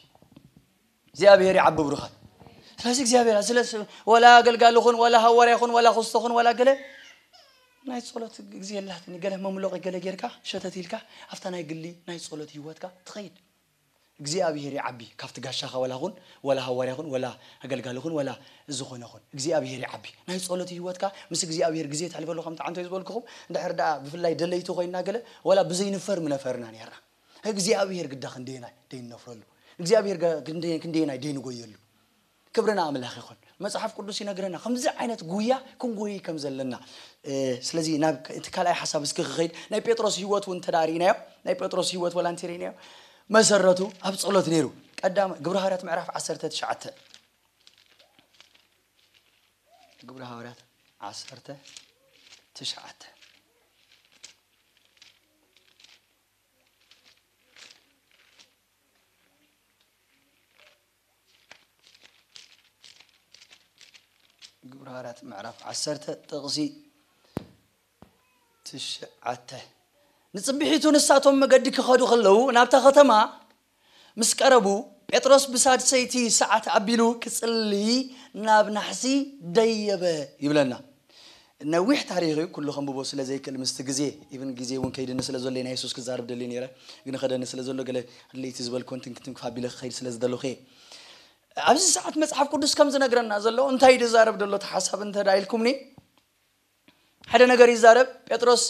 እግዚኣብሔር ይዓቢ ብሩኻት ስለዚ እግዚኣብሔር ስለ ወላ ኣገልጋሊ ኹን ወላ ሃዋርያ ኹን ወላ ኹስቶ ኹን ወላ ገለ ናይ ጸሎት ግዜ የላትን ገለ መምሎቒ ገለ ጌርካ ሸተት ኢልካ ኣብታ ናይ ግሊ ናይ ጸሎት ህይወትካ ትኸይድ እግዚኣብሔር ይዓቢ ካብቲ ጋሻኻ ወላ ኹን ወላ ሃዋርያ ኹን ወላ ኣገልጋሊ ኹን ወላ ዝኾነ ኹን እግዚኣብሔር ይዓቢ ናይ ጸሎት ህይወትካ ምስ እግዚኣብሔር ግዜ ተሕልፈሉ ከምቲ ዓንቶ ዝበልክኹም እንድሕር ደኣ ብፍላይ ደለይቲ ኮይና ገለ ወላ ብዘይንፈር ምነፈርና ነርና እግዚኣብሄር ግዳ ክንደየናይ ደይነፍረሉ እግዚኣብሄር ጋ ክንደ- ክንደየናይ ደይንጎየሉ ክብሪ ንኣምላኽ ይኹን መጽሓፍ ቅዱስ ይነግረና ከምዚ ዓይነት ጉያ ክንጎይይ ከም ዘለና እ፣ ስለዚ ናብ እቲ ካልኣይ ሓሳብ እስኪ ክኸይድ ናይ ጴጥሮስ ህይወት እውን እንተ ርኢናዮ ናይ ጴጥሮስ ህይወት ወላ እንተ ርኢናዮ መሰረቱ ኣብ ጸሎት ነይሩ ቀዳማ ግብረ ሃዋርያት ምዕራፍ 19 ግብረ ሃዋርያት 19 ግብረ ሃዋርያት ምዕራፍ ዓሰርተ ጥቕሲ ትሽዓተ ንፅብሒቱ ንሳቶም መገዲ ክኸዱ ከለዉ ናብታ ከተማ ምስ ቀረቡ፣ ጴጥሮስ ብሳድሰይቲ ሰዓት ኣቢሉ ክጽልይ ናብ ናሕሲ ደየበ ይብለና። ነዊሕ ታሪኽ እዩ ኩሉ ከንብቦ ስለ ዘይክእል ምስቲ ግዜ ኢቭን ግዜ ውን ከይድኒ ስለ ዘሎ እየ ናይ የሱስ ክዛረብ ደልየ ኔረ ግን ይኸደኒ ስለ ዘሎ ገለ ለይቲ ዝበልክወን ትንኪ ትንኪ ኣቢለ ክኸይድ ስለ ዝደለኹ እየ ኣብዚ ሰዓት መጽሓፍ ቅዱስ ከም ዝነግረና ዘሎ እንታይ ድዛረብ ደሎ ተሓሳብ እንተ ኢልኩምኒ ሓደ ነገር ይዛረብ ጴጥሮስ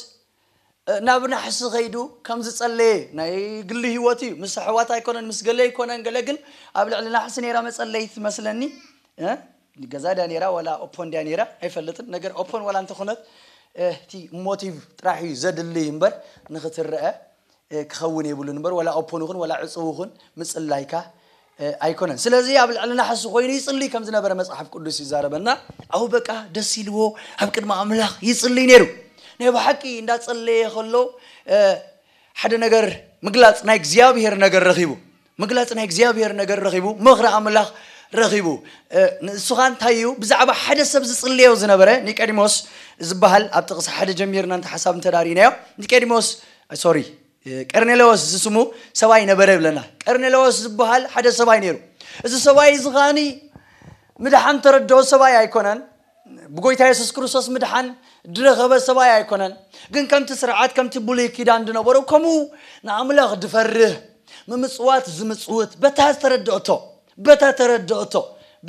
ናብ ናሕሲ ከይዱ ከም ዝጸለየ ናይ ግሊ ህይወት እዩ ምስ ኣሕዋት ኣይኮነን ምስ ገለ ኣይኮነን ገለ ግን ኣብ ልዕሊ ናሕሲ ነይራ መጸለይት ትመስለኒ እ፣ ገዛ ድያ ነይራ ዋላ ኦፖን ድያ ነይራ ኣይፈልጥን ነገር ኦፖን ዋላ እንተኾነት እቲ ሞቲቭ ጥራሕ እዩ ዘድልይ እምበር ንክትረአ ክኸውን የብሉን እምበር ወላ ኦፖን ይኹን ወላ ዕጽው ይኹን ምጽላይካ ኣይኮነን ስለዚ ኣብ ልዕሊ ናሕሲ ኮይኑ ይጽልይ ከም ዝነበረ መጽሓፍ ቅዱስ ይዛረበና ኣው በቃ ደስ ኢልዎ ኣብ ቅድሚ ኣምላኽ ይጽልይ ነይሩ ናይ ብሓቂ እንዳጸለየ ከሎ ሓደ ነገር ምግላጽ ናይ እግዚኣብሔር ነገር ረኺቡ ምግላጽ ናይ እግዚኣብሔር ነገር ረኺቡ ምኽሪ ኣምላኽ ረኺቡ ንእሱ ኸኣ እንታይ እዩ ብዛዕባ ሓደ ሰብ ዝጽልዮ ዝነበረ ኒቀዲሞስ ዝበሃል ኣብ ጥቕሲ ሓደ ጀሚርና እንተ ሓሳብ እንተ ርኢናዮ ኒቀዲሞስ ሶሪ ቀርኔለዎስ ዝስሙ ሰብኣይ ነበረ ይብለና ቀርኔለዎስ ዝበሃል ሓደ ሰብኣይ ነይሩ እዚ ሰብኣይ እዚ ኸኣኒ ምድሓን ተረድኦ ሰብኣይ ኣይኮነን ብጎይታ የሱስ ክርስቶስ ምድሓን ድረኸበ ሰብኣይ ኣይኮነን ግን ከምቲ ስርዓት ከምቲ ብሉይ ኪዳን ድነበሮ ከምኡ ንኣምላኽ ድፈርህ ምምጽዋት ዝምጽውት በታ ዝተረድኦቶ በታ ተረድኦቶ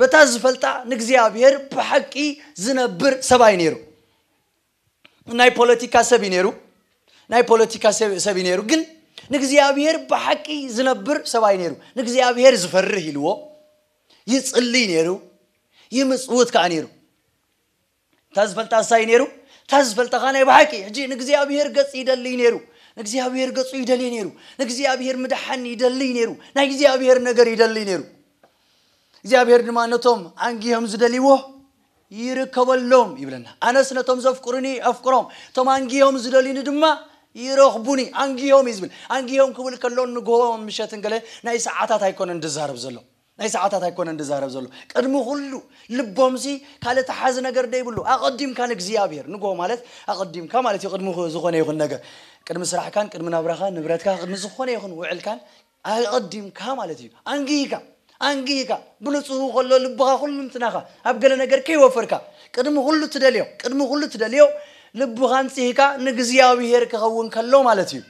በታ ዝፈልጣ ንእግዚኣብሔር ብሓቂ ዝነብር ሰብኣይ ነይሩ ናይ ፖለቲካ ሰብ እዩ ነይሩ ናይ ፖለቲካ ሰብ እዩ ነይሩ ግን ንእግዚኣብሔር ብሓቂ ዝነብር ሰብኣይ ነይሩ ንእግዚኣብሔር ዝፈርህ ኢልዎ ይፅልይ ነይሩ ይምፅውት ከዓ ነይሩ እታ ዝፈልጣ እሳይ ነይሩ እታ ዝፈልጣ ከዓ ናይ ብሓቂ ሕጂ ንእግዚኣብሔር ገፅ ይደልይ ነይሩ ንእግዚኣብሔር ገፁ ይደልይ ነይሩ ንእግዚኣብሔር ምድሓን ይደልይ ነይሩ ናይ እግዚኣብሔር ነገር ይደልይ ነይሩ እግዚኣብሔር ድማ ነቶም ኣንጊሆም ዝደልይዎ ይርከበሎም ይብለና። ኣነስ ነቶም ዘፍቅሩኒ ኣፍቅሮም፣ እቶም ኣንጊሆም ዝደልዩኒ ድማ ይረኽቡኒ። ኣንጊሆም እዩ ዝብል። ኣንጊሆም ክብል ከሎ ንግሆን ምሸትን ገለ ናይ ሰዓታት ኣይኮነን ዝዛረብ ዘሎ። ናይ ሰዓታት ኣይኮነን ዝዛረብ ዘሎ። ቅድሚ ኩሉ ልቦምሲ ካልእ ተሓዚ ነገር ዘይብሉ ኣቐዲምካ ንእግዚኣብሄር፣ ንግሆ ማለት ኣቐዲምካ ማለት እዩ ቅድሚ ዝኾነ ይኹን ነገር፣ ቅድሚ ስራሕካን ቅድሚ ናብራኻን ንብረትካ ቅድሚ ዝኾነ ይኹን ውዕልካን፣ ኣቐዲምካ ማለት እዩ ኣንጊህካ ኣንጊህካ ብንጹሁ ከሎ ልብኻ ኩሉንትናኻ ኣብ ገለ ነገር ከይወፈርካ ቅድሚ ኩሉ እትደልዮ ቅድሚ ኩሉ እትደልዮ ልብኻ ኣንጺህካ ንእግዚኣብሄር ክኸውን ከሎ ማለት እዩ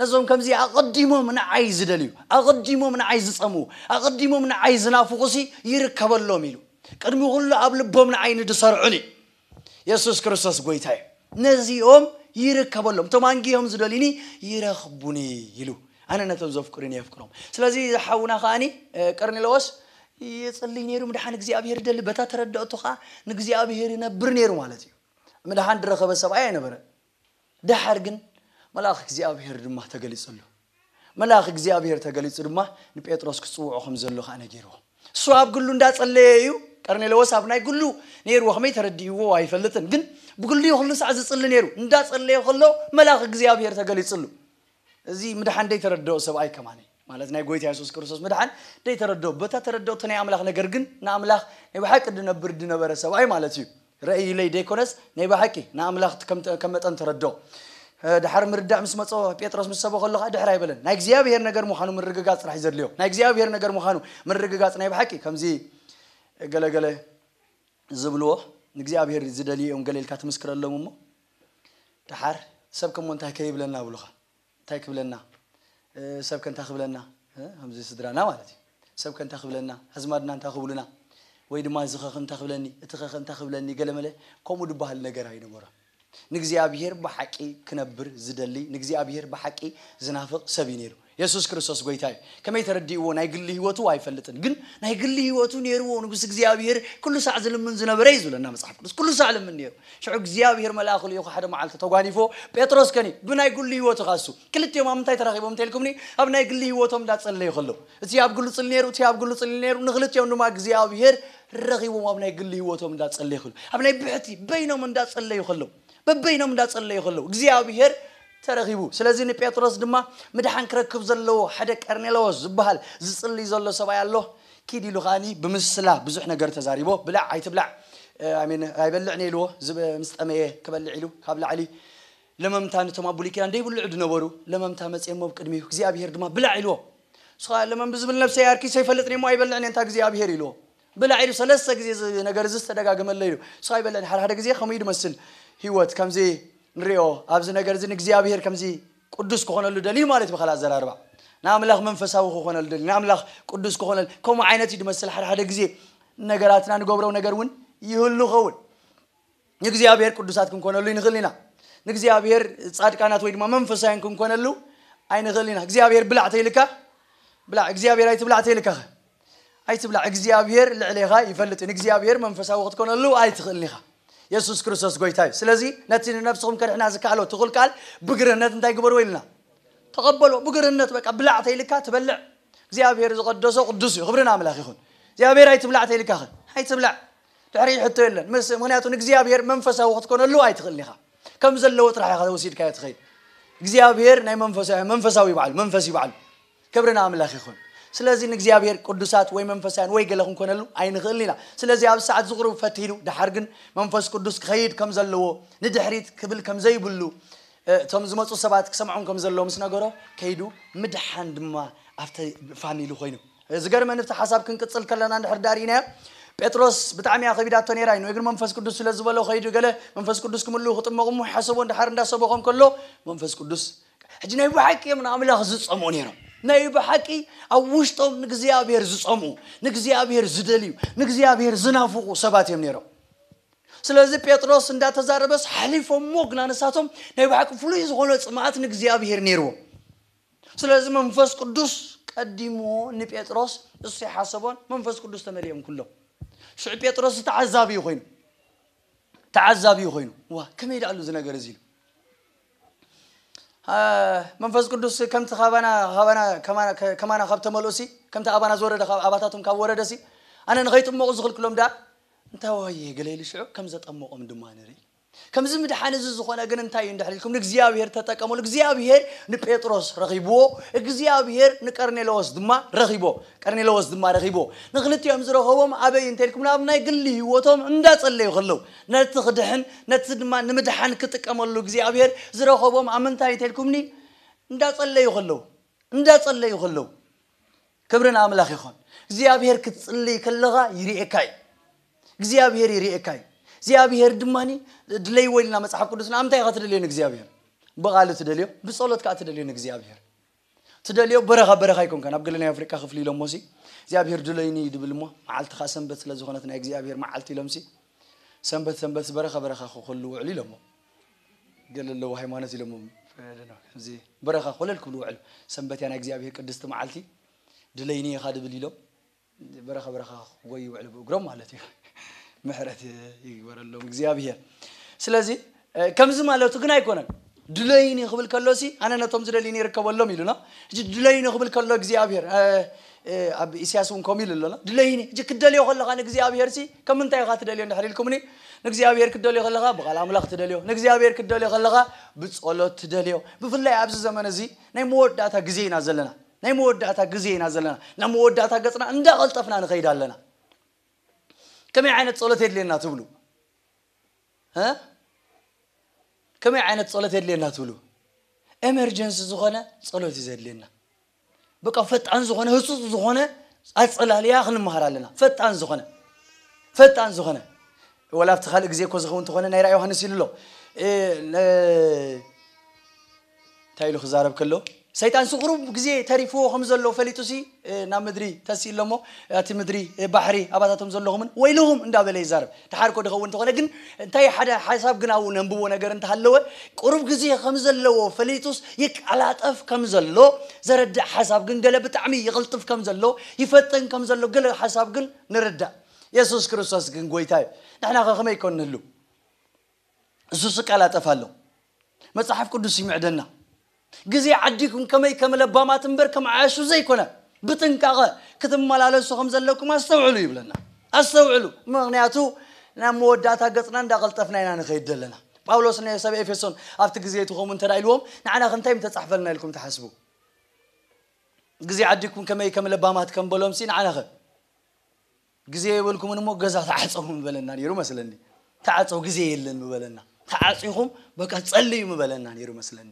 ነዞም ከምዚ ኣቐዲሞም ንዓይ ዝደልዩ ኣቐዲሞም ንዓይ ዝጸምኡ ኣቐዲሞም ንዓይ ዝናፍቑሲ ይርከበሎም ኢሉ ቅድሚ ኩሉ ኣብ ልቦም ንዓይ ንድሰርዑኒ የሱስ ክርስቶስ ጐይታ እዩ፣ ነዚኦም ይርከበሎም፣ እቶም ኣንጊሆም ዝደልዩኒ ይረኽቡኒ ኢሉ። ኣነ ነቶም ዘፍቅሩኒ የፍቅሮም። ስለዚ እዚ ሓውና ከኣኒ ቀርኔለዎስ ይጽልይ ነይሩ፣ ምድሓን እግዚኣብሄር ይደሊ፣ በታ ተረድኦቱ ከኣ ንእግዚኣብሄር ይነብር ነይሩ ማለት እዩ። ምድሓን ድረኸበ ሰብኣይ ኣይነበረን። ደሓር ግን መልኣኽ እግዚኣብሄር ድማ ተገሊጽሉ። መልኣኽ እግዚኣብሄር ተገሊጹ ድማ ንጴጥሮስ ክጽውዖ ከም ዘሎ ኸኣ ነጊርዎ። እሱ ኣብ ግሉ እንዳ ጸለየ እዩ፣ ቀርኔለዎስ ኣብ ናይ ግሉ ነይርዎ ከመይ ተረዲእዎ ኣይፈልጥን ግን ብግሉ እዩ ኩሉ ሳዕ ዝጽሊ ነይሩ። እንዳ ጸለየ ከሎ መልኣኽ እግዚኣብሄር ተገሊጽሉ። እዚ ምድሓን ደይተረድኦ ሰብኣይ ከማነይ ማለት ናይ ጎይታ የሱስ ክርስቶስ ምድሓን ደይተረድኦ በታ ተረድኦቶ ናይ ኣምላኽ ነገር ግን ንኣምላኽ ናይ ብሓቂ ድነብር ድነበረ ሰብኣይ ማለት እዩ ረእይለይ ደይኮነስ ናይ ብሓቂ ንኣምላኽ ከም መጠን ተረድኦ ድሓር ምርዳእ ምስ መጾ ጴጥሮስ ምስ ሰበኸሉ ከኣ ድሕር ኣይበለን ናይ እግዚኣብሄር ነገር ምዃኑ ምርግጋጽ ጥራሕ ዘድልዮ ናይ እግዚኣብሄር ነገር ምዃኑ ምርግጋጽ ናይ ብሓቂ ከምዚ ገለገለ ዝብልዎ ንእግዚኣብሄር ዝደልዩ እዮም ገለ ኢልካ ትምስክረሎም እሞ ደሓር ሰብ ከሞ እንታይ ከ ይብለና ብሉኻ እንታይ ክብለና ሰብ ከ እንታይ ክብለና ከምዚ ስድራና ማለት እዩ ሰብ ከ እንታይ ክብለና ኣዝማድና እንታይ ክብሉና ወይ ድማ እዚ ኸ እንታይ ክብለኒ እቲ ኸ እንታይ ክብለኒ ገለመለ ከምኡ ድበሃል ነገር ኣይነበሮን ንእግዚኣብሄር ብሓቂ ክነብር ዝደሊ ንእግዚኣብሄር ብሓቂ ዝናፍቕ ሰብ እዩ ነይሩ የሱስ ክርስቶስ ጎይታ እዩ ከመይ ተረዲእዎ ናይ ግሊ ሂወቱ ኣይፈልጥን ግን ናይ ግሊ ሂወቱ ኔርዎ ንጉስ እግዚኣብሄር ኩሉ ሳዕ ዝልምን ዝነበረ እዩ ዝብለና መጽሓፍ ቅዱስ ኩሉ ሳዕ ልምን ኔሩ ሽዑ እግዚኣብሄር መልኣኹ ልኢኹ ሓደ መዓልቲ ተጓኒፎ ጴጥሮስ ከኒ ብናይ ግሊ ሂወቱ ካሱ ክልቲኦም ኣብ ምንታይ ተራኺቦም እንተልኩምኒ ኣብ ናይ ግሊ ሂወቶም እንዳጸለዩ ከለዉ እቲ ኣብ ግሉ ጽሊ ኔሩ እቲ ኣብ ግሉ ጽሊ ኔሩ ንክልቲኦም ድማ እግዚኣብሄር ረኺቦም ኣብ ናይ ግሊ ሂወቶም እንዳጸለዩ ከለዉ ኣብ ናይ ብሕቲ በይኖም እንዳጸለዩ ከለዉ በበይኖም እንዳጸለዩ ከለዉ እግዚኣብሄር ተረኺቡ። ስለዚ ንጴጥሮስ ድማ ምድሓን ክረክብ ዘለዎ ሓደ ቀርኔለዎስ ዝበሃል ዝጽልይ ዘሎ ሰብኣይ ኣሎ፣ ኪድ ኢሉ ከኣ ብምስላ ብዙሕ ነገር ተዛሪቦ፣ ብላዕ ኣይትብላዕ፣ I mean፣ ኣይበልዕ እኔ ኢልዎ፣ ምስ ጠመየ ክበልዕ ኢሉ፣ ካብ ላዕሊ ለመምታ ነቶም ኣብ ብሉይ ኪዳን ደይብልዑ ድነበሩ ለመምታ መጽኤሞ ኣብ ቅድሚኡ፣ እግዚኣብሄር ድማ ብላዕ ኢልዎ፣ ንሱ ከኣ ለመም ብዝብል ነብሰይ ኣርኪሰ ይፈልጥ እኔሞ ኣይበልዕን እየ እንተ እግዚኣብሄር ኢልዎ፣ ብላዕ ኢሉ ሰለስተ ግዜ እዚ ነገር እዚ ዝተደጋገመለይ እዩ ስቅ ኣይበለን ሓደ ሓደ ግዜ ከምኡ እዩ ዝመስል ሂወት ከምዚ ንሪኦ ኣብዚ ነገር እዚ ንእግዚኣብሄር ከምዚ ቁዱስ ክኾነሉ ደልዩ ማለት እዩ ብካልእ ኣዘራርባ ንኣምላኽ መንፈሳዊ ክኾነሉ ደልዩ ንኣምላኽ ቁዱስ ክኾነሉ ከምኡ ዓይነት እዩ ዝመስል ሓደ ሓደ ግዜ ነገራትና ንገብሮ ነገር እውን ይህሉ ይኸውን ንእግዚኣብሔር ቅዱሳት ክንኮነሉ ኣይንኽእል ኢና። ንእግዚኣብሔር ጻድቃናት ወይ ድማ መንፈሳውያን ክንኮነሉ ኣይንኽእል ኢና። እግዚኣብሔር ብላዕ ተይልካ ብላዕ፣ እግዚኣብሔር ኣይትብላዕ ተይልካኸ ኣይትብላዕ። እግዚኣብሔር ልዕሌኻ ይፈልጥ እዩ። ንእግዚኣብሔር መንፈሳዊ ክትኮነሉ ኣይትኽእልን ኢኻ። የሱስ ክርስቶስ ጎይታ እዩ። ስለዚ ነቲ ንነፍስኹም ከድሕና ዝከኣሎ ትኹል ቃል ብግርህነት እንታይ ግበርዎ ኢልና ተቐበሎ። ብግርህነት በቃ ብላዕ ተይልካ ትበልዕ። እግዚኣብሔር ዝቐደሶ ቅዱስ እዩ። ክብሪ ንኣምላኽ ይኹን። እግዚኣብሔር ኣይትብላዕ ተይልካኸ ኣይትብላዕ። ድሕሪኡ ሕቶ የለን ምስ ምክንያቱ ንእግዚኣብሔር መንፈሳዊ ክትኮነሉ ኣይትኽእልን ኢኻ ከም ዘለዎ ጥራሕ ኢኻ ወሲድካዮ ትኸይድ እግዚኣብሔር ናይ መንፈሳዊ መንፈሳዊ ይባዕሉ መንፈስ ይባዕሉ ክብሪ ንኣምላኽ ይኹን ስለዚ ንእግዚኣብሔር ቅዱሳት ወይ መንፈሳውያን ወይ ገለ ክንኮነሉ ኣይንኽእልን ኢና ስለዚ ኣብ ሰዓት ዝቕርቡ ፈቲኑ ድሓር ግን መንፈስ ቅዱስ ክኸይድ ከም ዘለዎ ንድሕሪት ክብል ከም ዘይብሉ እ፣ እቶም ዝመፁ ሰባት ክሰምዖም ከም ዘለዎ ምስ ነገሮ ከይዱ ምድሓን ድማ ኣብቲ ፋሚሊ ኮይኑ ዝገርመኒ እቲ ሓሳብ ክንቅጽል ከለና እንድሕር ድኣ ርኢናዮ ጴጥሮስ ብጣዕሚ እያ ከቢዳቶ ነይራ እዩ ንእግሪ መንፈስ ቅዱስ ስለ ዝበሎ ከይዱ ገለ መንፈስ ቅዱስ ክምልኡ ክጥመቑ እሞ ሓሰቦ እንድሓር እንዳ ሰበኾም ከሎ መንፈስ ቅዱስ ሕጂ ናይ ብሓቂ እዮም ንኣምላኽ ዝጸምኡ ነይሮም ናይ ብሓቂ ኣብ ውሽጦም ንእግዚኣብሔር ዝጸምኡ ንእግዚኣብሔር ዝደልዩ ንእግዚኣብሔር ዝናፍቑ ሰባት እዮም ነይሮም ስለዚ ጴጥሮስ እንዳተዛረበስ ሓሊፎሞ ግና ንሳቶም ናይ ብሓቂ ፍሉይ ዝኾነ ጽምኣት ንእግዚኣብሔር ነይርዎም ስለዚ መንፈስ ቅዱስ ቀዲምዎ ንጴጥሮስ እሱ ኣይሓሰቦን መንፈስ ቅዱስ ተመሊኦም ኩሎም ሽዑ ጴጥሮስ ዝተዓዛቢ ኮይኑ ተዓዛቢ ኮይኑ ዋ ከመይ ዳኣሉ እዚ ነገር እዚ ኢሉ መንፈስ ቅዱስ ከምቲ ካባና ካባና ከማና ከማና ካብ ተመልኡሲ ከምቲ ኣባና ዝወረደ ካብ ኣባታቶም ካብ ወረደሲ ኣነ ንኸይጥመቑ ዝኽልክሎም ደኣ እንታይ ዋየ ገለ ኢሉ ሽዑ ከም ዘጠመቖም ድማ ንርኢ ከምዚ ምድሓን እዚ ዝኾነ ግን እንታይ እዩ እንድሕር ኢልኩም ንእግዚኣብሄር ተጠቀመሉ እግዚኣብሄር ንጴጥሮስ ረኺብዎ እግዚኣብሄር ንቀርኔለዎስ ድማ ረኺቦ ቀርኔለዎስ ድማ ረኺብዎ ንክልቲኦም ዝረኸቦም ኣበይ እንተ ኢልኩም ናብ ናይ ግሊ ህይወቶም እንዳጸለዩ ከለዉ ነቲ ክድሕን ነቲ ድማ ንምድሓን ክጥቀመሉ እግዚኣብሄር ዝረኸቦም ኣብ ምንታይ እንተ ኢልኩምኒ እንዳጸለዩ ከለዉ እንዳጸለዩ ከለዉ ክብሪ ንኣምላኽ ይኹን እግዚኣብሄር ክትጽልይ ከለኻ ይርእየካ እዩ እግዚኣብሄር ይሪኤካ እዩ እግዚኣብሄር ድማ ድለይዎ ኢልና መፅሓፍ ቅዱስና ኣብ እንታይ ኢኻ ትደልዮ ንእግዚኣብሄር ብቓሉ ትደልዮ ብፀሎት ከዓ ትደልዮ ንእግዚኣብሄር ትደልዮ በረኻ በረኻ ኣይኮንካን ኣብ ገለ ናይ ኣፍሪቃ ክፍሊ ኢሎሞ ሲ እግዚኣብሄር ድለይኒ እዩ ድብል እሞ መዓልቲ ከዓ ሰንበት ስለ ዝኾነት ናይ እግዚኣብሄር መዓልቲ ኢሎም ሲ ሰንበት ሰንበት በረኻ በረኻ ክኸሉ ውዕሉ ኢሎሞ ገለ ኣለዎ ሃይማኖት ኢሎሞ እዚ በረኻ ኮለል ክብሉ ውዕሉ ሰንበት እያ ናይ እግዚኣብሄር ቅድስቲ መዓልቲ ድለይኒ ኢኻ ድብል ኢሎም በረኻ በረኻ ክጎዩ ይውዕሉ ብእግሮም ማለት እዩ ምሕረት ይግበረሎም እግዚኣብሄር ስለዚ ከምዚ ማለቱ ግን ኣይኮነን ድለይኒ ክብል ከሎ ሲ ኣነ ነቶም ዝደልዩኒ ይርከበሎም ኢሉና እዚ ድለይኒ ክብል ከሎ እግዚኣብሄር ኣብ ኢሳያስ እውን ከምኡ ኢሉ ኣሎና ድለይኒ እዚ ክደልዮ ከለካ ንእግዚኣብሄር ሲ ከም ምንታይ ኢኻ ትደልዮ እንድሕር ኢልኩምኒ ንእግዚኣብሄር ክደልዮ ከለካ ብቃል ኣምላኽ ትደልዮ ንእግዚኣብሄር ክደልዮ ከለካ ብጸሎት ትደልዮ ብፍላይ ኣብዚ ዘመን እዚ ናይ መወዳእታ ግዜ ኢና ዘለና ናይ መወዳእታ ግዜ ኢና ዘለና ናብ መወዳእታ ገጽና እንዳቐልጠፍና ንኸይድ ኣለና ከመይ ዓይነት ጸሎት የድልየና ትብሉ ከመይ ዓይነት ጸሎት የድልየና ትብሉ ኤመርጀንሲ ዝኾነ ጸሎት እዩ ዘድልየና በቃ ፈጣን ዝኾነ ህጹጽ ዝኾነ ኣጸላልያ ክንመሃር ኣለና ፈጣን ዝኾነ ፈጣን ዝኾነ ወላ ኣብቲ ካልእ ግዜ እኮ ዝኸውን ተኾነ ናይ ራ ዮሃንስ ኢሉ ኣሎ እንታይ ኢሉ ክዛረብ ከሎ ሰይጣንሲ ቁሩብ ግዜ ተሪፍዎ ከም ዘሎ ፈሊጡሲ ናብ ምድሪ ተሲኡ ኣሎሞ ኣቲ ምድሪ ባሕሪ ኣባታቶም ዘሎኹምን ወይልኹም እንዳ በለ ይዛረብ ተሓርኮ ድኸውን ተኾነ ግን እንታይ ሓደ ሓሳብ ግን ኣብኡ ነንብቦ ነገር እንተሃለወ ቁሩብ ግዜ ከም ዘለዎ ፈሊጡስ ይቃላጠፍ ከም ዘሎ ዘረድእ ሓሳብ ግን ገለ ብጣዕሚ ይቕልጥፍ ከም ዘሎ ይፈጥን ከም ዘሎ ገለ ሓሳብ ግን ንርዳእ የሱስ ክርስቶስ ግን ጎይታ እዩ ንሕናኸ ከመይ ኮን ንህሉ እሱስ እቀላጠፍ ኣሎ መጽሓፍ ቅዱስ ይምዕደና ግዜ ዓዲኩም ከመይ ከም ለባማት እምበር ከም ዓያሹ ዘይኮነ ብጥንቃቐ ክትመላለሱ ከም ዘለኩም ኣስተውዕሉ ይብለና ኣስተውዕሉ ምክንያቱ ናብ መወዳእታ ገጽና እንዳቐልጠፍና ኢና ንኸይድ ዘለና ጳውሎስ ንሰብ ኤፌሶን ኣብቲ ግዜ እቲ ከምኡ እንተ ኢልዎም ንዓና ክንታይ ምተጻሕፈልና ኢልኩም ትሓስቡ ግዜ ዓዲኩም ከመይ ከም ለባማት ከም በሎምሲ ንዓናኸ ግዜ የብልኩምን እሞ ገዛ ተዓጸዉ ምበለና ኔሩ መስለኒ ተዓጸዉ ግዜ የለን ምበለና ተዓጺኹም በቃ ጸልዩ ምበለና ኔሩ መስለኒ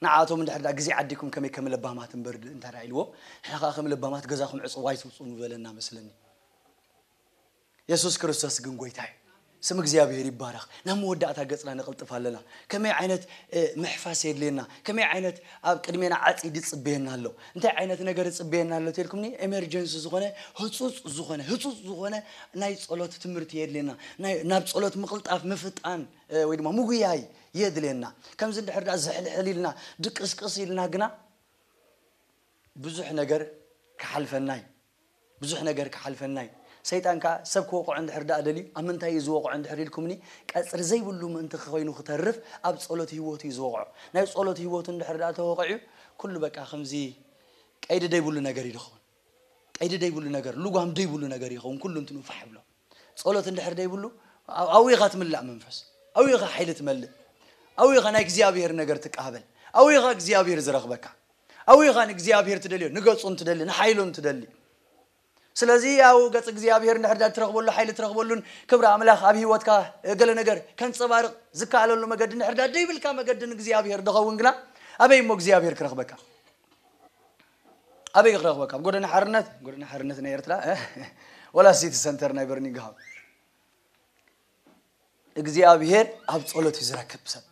ንዓቶም እንድሕር ድኣ ግዜ ዓዲኩም ከመይ ከም ለባማት እምበር ድ እንተ ድኣ ኢልዎም ንሕና ከኣ ከም ለባማት ገዛኹም ዕጽዉ ኣይትውጽኡ ምበለና መስለኒ የሱስ ክርስቶስ ግን ጎይታ እዩ ስም እግዚኣብሔር ይባረኽ ናብ መወዳእታ ገጽና ነቕልጥፍ ኣለና ከመይ ዓይነት ምሕፋስ የድልየና ከመይ ዓይነት ኣብ ቅድሜና ዓጽድ ይጽበየና ኣሎ እንታይ ዓይነት ነገር ይጽበየና ኣሎ ተልኩምኒ ኤመርጀንሲ ዝኾነ ህጹጽ ዝኾነ ህጹጽ ዝኾነ ናይ ጸሎት ትምህርቲ የድልየና ናይ ናብ ጸሎት ምቕልጣፍ ምፍጣን ወይ ድማ ምጉያይ የድልየና ከምዚ እንድሕር ድኣ ዝሕልሕል ኢልና ድቅስቅስ ኢልና ግና ብዙሕ ነገር ክሓልፈና እዩ ብዙሕ ነገር ክሓልፈና እዩ ሰይጣን ከኣ ሰብ ክወቕዖ እንድሕር ደኣ ደልዩ ኣብ ምንታይ እዩ ዝወቕዖ እንድሕር ኢልኩምኒ ቀጽሪ ዘይብሉ ምእንቲ ኮይኑ ክተርፍ ኣብ ጸሎት ሂወቱ እዩ ዝወቕዖ ናይ ጸሎት ሂወቱ እንድሕር ደኣ ተወቒዑ ኩሉ በቃ ከምዚ ቀይዲ ደይብሉ ነገር እዩ ድኸውን ቀይዲ ደይብሉ ነገር ሉጓም ደይብሉ ነገር ይኸውን ኩሉንትንኡ ፋሕ ይብሎ ጸሎት እንድሕር ደይብሉ ኣውይ ኢኻ ትምላእ መንፈስ ኣውይ ኢኻ ሓይሊ ትመልእ ኣውይ ኢኻ ናይ እግዚኣብሄር ነገር ትቃበል ኣውይ ኢኻ እግዚኣብሄር ዝረኽበካ ኣውይ ኢኻ ንእግዚኣብሄር ትደልዮ ንገጹን ትደሊ ንሓይሉን ትደሊ ስለዚ ያው ገጽ እግዚኣብሄር እንድሕር ዳ ትረኽበሉ ሓይሊ ትረኽበሉን ክብሪ ኣምላኽ ኣብ ህይወትካ ገለ ነገር ከንጸባርቕ ዝከኣለሉ መገዲ እንድሕር ዳ ደይብልካ መገዲ ንእግዚኣብሄር ድኸውን ግና ኣበይ እሞ እግዚኣብሄር ክረኽበካ ኣበይ ክረኽበካ ኣብ ጎደና ሓርነት ጎደና ሓርነት ናይ ኤርትራ ወላ ሲቲ ሰንተር ናይ በርኒግሃም እግዚኣብሄር ኣብ ጸሎት እዩ ዝረክብ ሰብ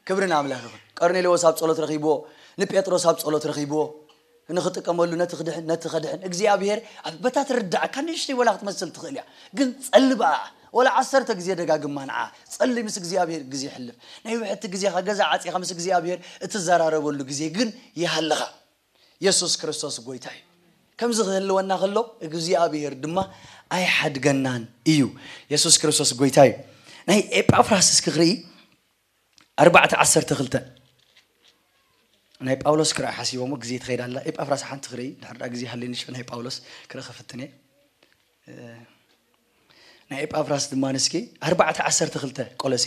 ክብሪ ንኣምላኽ ይኹን ቀርኔሌዎስ ኣብ ጸሎት ረኺብዎ ንጴጥሮስ ኣብ ጸሎት ረኺብዎ ንክጥቀመሉ ነቲ ክድሕን ነቲ ከድሕን እግዚኣብሄር ኣብ በታ ትርዳዕካ ንእሽተይ ወላ ክትመስል ትኽእል እያ ግን ጸሊ በኣ ወላ ዓሰርተ ግዜ ደጋግማ ንዓ ጸሊ ምስ እግዚኣብሄር ግዜ ሕልፍ ናይ ውሕድቲ ግዜኻ ገዛ ዓፂኻ ምስ እግዚኣብሄር እትዘራረበሉ ግዜ ግን ይሃልኻ የሱስ ክርስቶስ ጐይታ እዩ። ከምዚ ኺህልወና ኸሎ እግዚኣብሄር ድማ ኣይሓድገናን እዩ። የሱስ ክርስቶስ ጐይታ እዩ። ናይ ኤጳፍራስ እስኪ ክርኢ ኣርባዕተ ዓሰርተ ክልተ ናይ ጳውሎስ ክርኢ ሓሲቦሞ ግዜ ትኸይድ ኣላ ኤጳፍራስ ሓንቲ ክርኢ ድሕር ዳ ግዜ ሃልኒ ሽዑ ናይ ጳውሎስ ክርኢ ክፍትን እየ ናይ ኤጳፍራስ ድማ ንስኪ ኣርባዕተ ዓሰርተ ክልተ ቆለሴ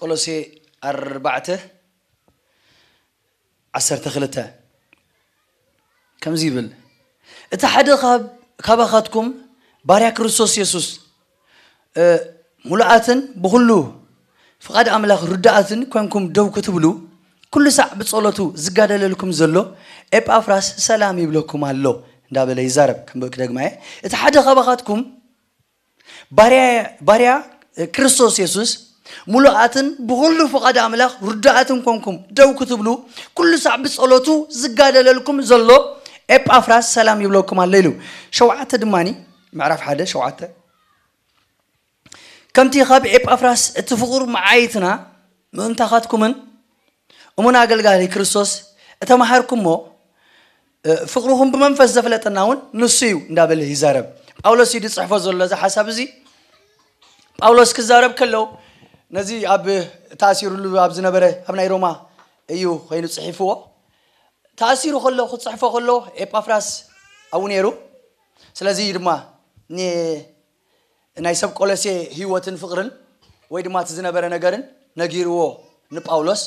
ቆሎሴ ኣርባዕተ ዓሰርተ ክልተ ከምዚ ይብል እቲ ሓደ ካባኻትኩም ባርያ ክርስቶስ የሱስ ሙሉኣትን ብኹሉ ፍቓድ ኣምላኽ ርዱኣትን ኮንኩም ደው ክትብሉ ኩሉ ሳዕ ብጸሎቱ ዝጋደለልኩም ዘሎ ኤጳፍራስ ሰላም ይብለኩም ኣሎ እንዳበለ ይዛረብ ክደግማ እየ እቲ ሓደ ካባኻትኩም ባርያ ክርስቶስ የሱስ ሙሉኣትን ብኹሉ ፍቓድ ኣምላኽ ርዱኣትን ኮንኩም ደው ክትብሉ ኩሉ ሳዕ ብጸሎቱ ዝጋደለልኩም ዘሎ ኤጳፍራስ ሰላም ይብለኩም ኣሎ ኢሉ ሸውዓተ ድማኒ ምዕራፍ ሓደ ሸውዓተ ከምቲ ካብ ኤጳፍራስ እቲ ፍቑር መዓይትና ምእንታኻትኩምን እሙን ኣገልጋሊ ክርስቶስ እተማሃርኩሞ ፍቕርኹም ብመንፈስ ዘፍለጠና እውን ንሱ እዩ እንዳበለ ይዛረብ ጳውሎስ እዩ ዝፅሕፎ ዘሎ እዚ ሓሳብ እዚ ጳውሎስ ክዛረብ ከለው ነዚ ኣብ ተኣሲሩሉ ኣብ ዝነበረ ኣብ ናይ ሮማ እዩ ኮይኑ ፅሒፍዎ ተኣሲሩ ከሎ ክፅሕፎ ከሎ ኤጳፍራስ ኣብኡ ነይሩ ስለዚ እዩ ድማ ናይ ሰብ ቆሎሴ ህይወትን ፍቕርን ወይ ድማ እቲ ዝነበረ ነገርን ነጊርዎ ንጳውሎስ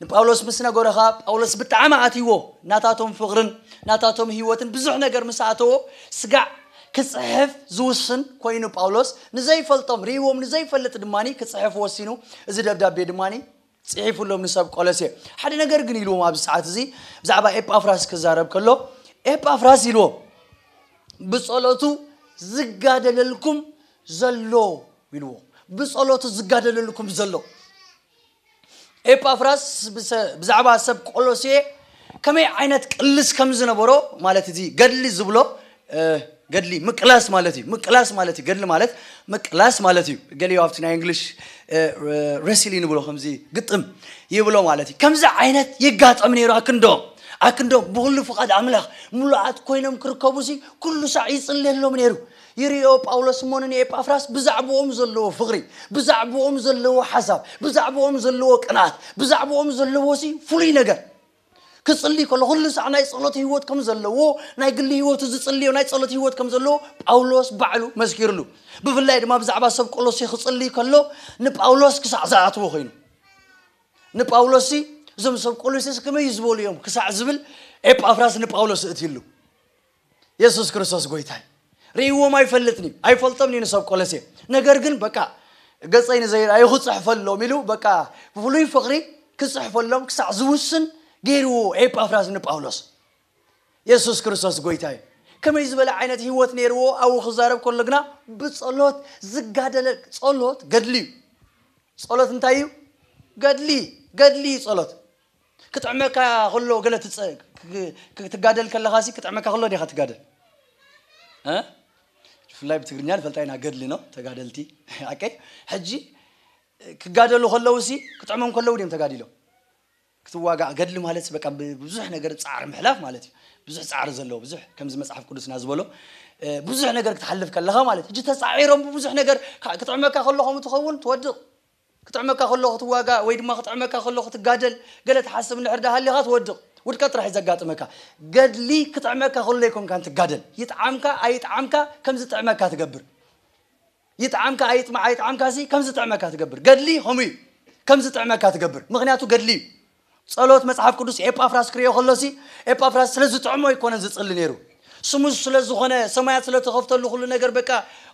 ንጳውሎስ ምስ ነገሮ ኸኣ ጳውሎስ ብጣዕሚ ኣትይዎ ናታቶም ፍቕርን ናታቶም ህይወትን ብዙሕ ነገር ምስ ኣተዎ ስጋዕ ክጽሕፍ ዝውስን ኮይኑ ጳውሎስ ንዘይፈልጦም ርእይዎም ንዘይፈልጥ ድማ ክጽሕፍ ወሲኑ እዚ ደብዳቤ ድማ ጽሒፉሎም ንሰብ ቈለሴ። ሓደ ነገር ግን ኢልዎም ኣብዚ ሰዓት እዚ ብዛዕባ ኤጳፍራስ ክዛረብ ከሎ ኤጳፍራስ ኢልዎም ብጸሎቱ ዝጋደለልኩም ዘሎ ኢልዎም ብጸሎቱ ዝጋደለልኩም ዘሎ ኤጳፍራስ ብዛዕባ ሰብ ቆሎሴ ከመይ ዓይነት ቅልስ ከም ዝነበሮ ማለት እዚ ገድሊ ዝብሎ ገድሊ ምቅላስ ማለት እዩ ምቅላስ ማለት እዩ ገድሊ ማለት ምቅላስ ማለት እዩ ገሊዮ ኣብቲ ናይ እንግሊሽ ረሲሊ ንብሎ ከምዚ ግጥም ይብሎ ማለት እዩ ከምዚ ዓይነት ይጋጠም ነይሩ ኣክንዶ ኣክንዶ ብኩሉ ፍቓድ ኣምላኽ ምሉኣት ኮይኖም ክርከቡ ሲ ኩሉ ሳዕ ይጽለሎም ነይሩ ይርዮ ጳውሎስ እሞ ንኤጳፍራስ ብዛዕባኦም ዘለዎ ፍቕሪ ብዛዕባኦም ዘለዎ ሓሳብ ብዛዕባኦም ዘለዎ ቅንኣት ብዛዕባኦም ዘለዎ ሲ ፍሉይ ነገር ክጽሊ ከሎ ኩሉ ሳዕ ናይ ጸሎት ህይወት ከም ዘለዎ ናይ ግሊ ህይወቱ ዝጽልዮ ናይ ጸሎት ህይወት ከም ዘለዎ ጳውሎስ ባዕሉ መስኪርሉ ብፍላይ ድማ ብዛዕባ ሰብ ቆሎሴ ክጽሊ ከሎ ንጳውሎስ ክሳዕ ዝኣትዎ ኮይኑ ንጳውሎስ እዞም ሰብ ቆሎሴስ ከመይ ዝበሉ እዮም ክሳዕ ዝብል ኤጳፍራስ ንጳውሎስ እእትይሉ የሱስ ክርስቶስ ጎይታይ ርእይዎም ኣይፈልጥን'ዩ፣ ኣይፈልጦምን'ዩ ንሰብ ቆለሴ። ነገር ግን በቃ ገጸይ ንዘይርኣዩ ክጽሕፈሎም ኢሉ በቃ ብፍሉይ ፍቕሪ ክጽሕፈሎም ክሳዕ ዝውስን ገይርዎ ኤጳፍራስ ንጳውሎስ። የሱስ ክርስቶስ ጎይታ'ዩ። ከመይ ዝበለ ዓይነት ህይወት ነይርዎ ኣብኡ ክዛረብ ከሎ ግና ብጸሎት ዝጋደለ ጸሎት ገድሊ'ዩ። ጸሎት እንታይ'ዩ? ገድሊ ገድሊ'ዩ ጸሎት። ክጥዕመካ ከሎ ገለ ክትጋደል ከለኻሲ ክጥዕመካ ከሎ ዲኻ ትጋደል ብፍላይ ብትግርኛ ንፈልጣ ኢና ገድሊ ነው ተጋደልቲ ኣቀይ ሕጂ ክጋደሉ ከለውሲ ክጥዕሞም ከለው ድም ተጋዲሎም ክትዋጋእ ገድሊ ማለት በቃ ብዙሕ ነገር ፃዕሪ ምሕላፍ ማለት እዩ ብዙሕ ፃዕሪ ዘለዎ ብዙሕ ከምዚ መፅሓፍ ቅዱስና ዝበሎ ብዙሕ ነገር ክትሓልፍ ከለኻ ማለት ሕጂ ተፃዒሮም ብብዙሕ ነገር ክጥዕመካ ከሎ ከምኡ ትኸውን ትወድቕ ክጥዕመካ ከሎ ክትዋጋእ ወይ ድማ ክጥዕመካ ከሎ ክትጋደል ገለ ትሓስብ እንድሕር ድኣ ሃሊኻ ትወድቕ። ውድቀት ጥራሕ እዩ ዘጋጥመካ። ገድሊ ክጥዕመካ ከሎ ኣይኮንካን ትጋደል። ይጥዓምካ ኣይጥዓምካ ከም ዝጥዕመካ ትገብር። ይጥዓምካ ኣይጥዓምካ'ሲ ከም ዝጥዕመካ ትገብር። ገድሊ ከምኡ እዩ። ከም ዝጥዕመካ ትገብር። ምኽንያቱ ገድሊ እዩ። ጸሎት መጽሓፍ ቅዱስ ኤጳፍራስ ክርእዮ ከሎሲ ኤጳፍራስ ስለ ዝጥዕሞ ኣይኮነን ዝጽሊ ነይሩ ስሙዝ ስለ ዝኾነ ሰማያት ስለ ተኸፍተሉ ኩሉ ነገር በቃ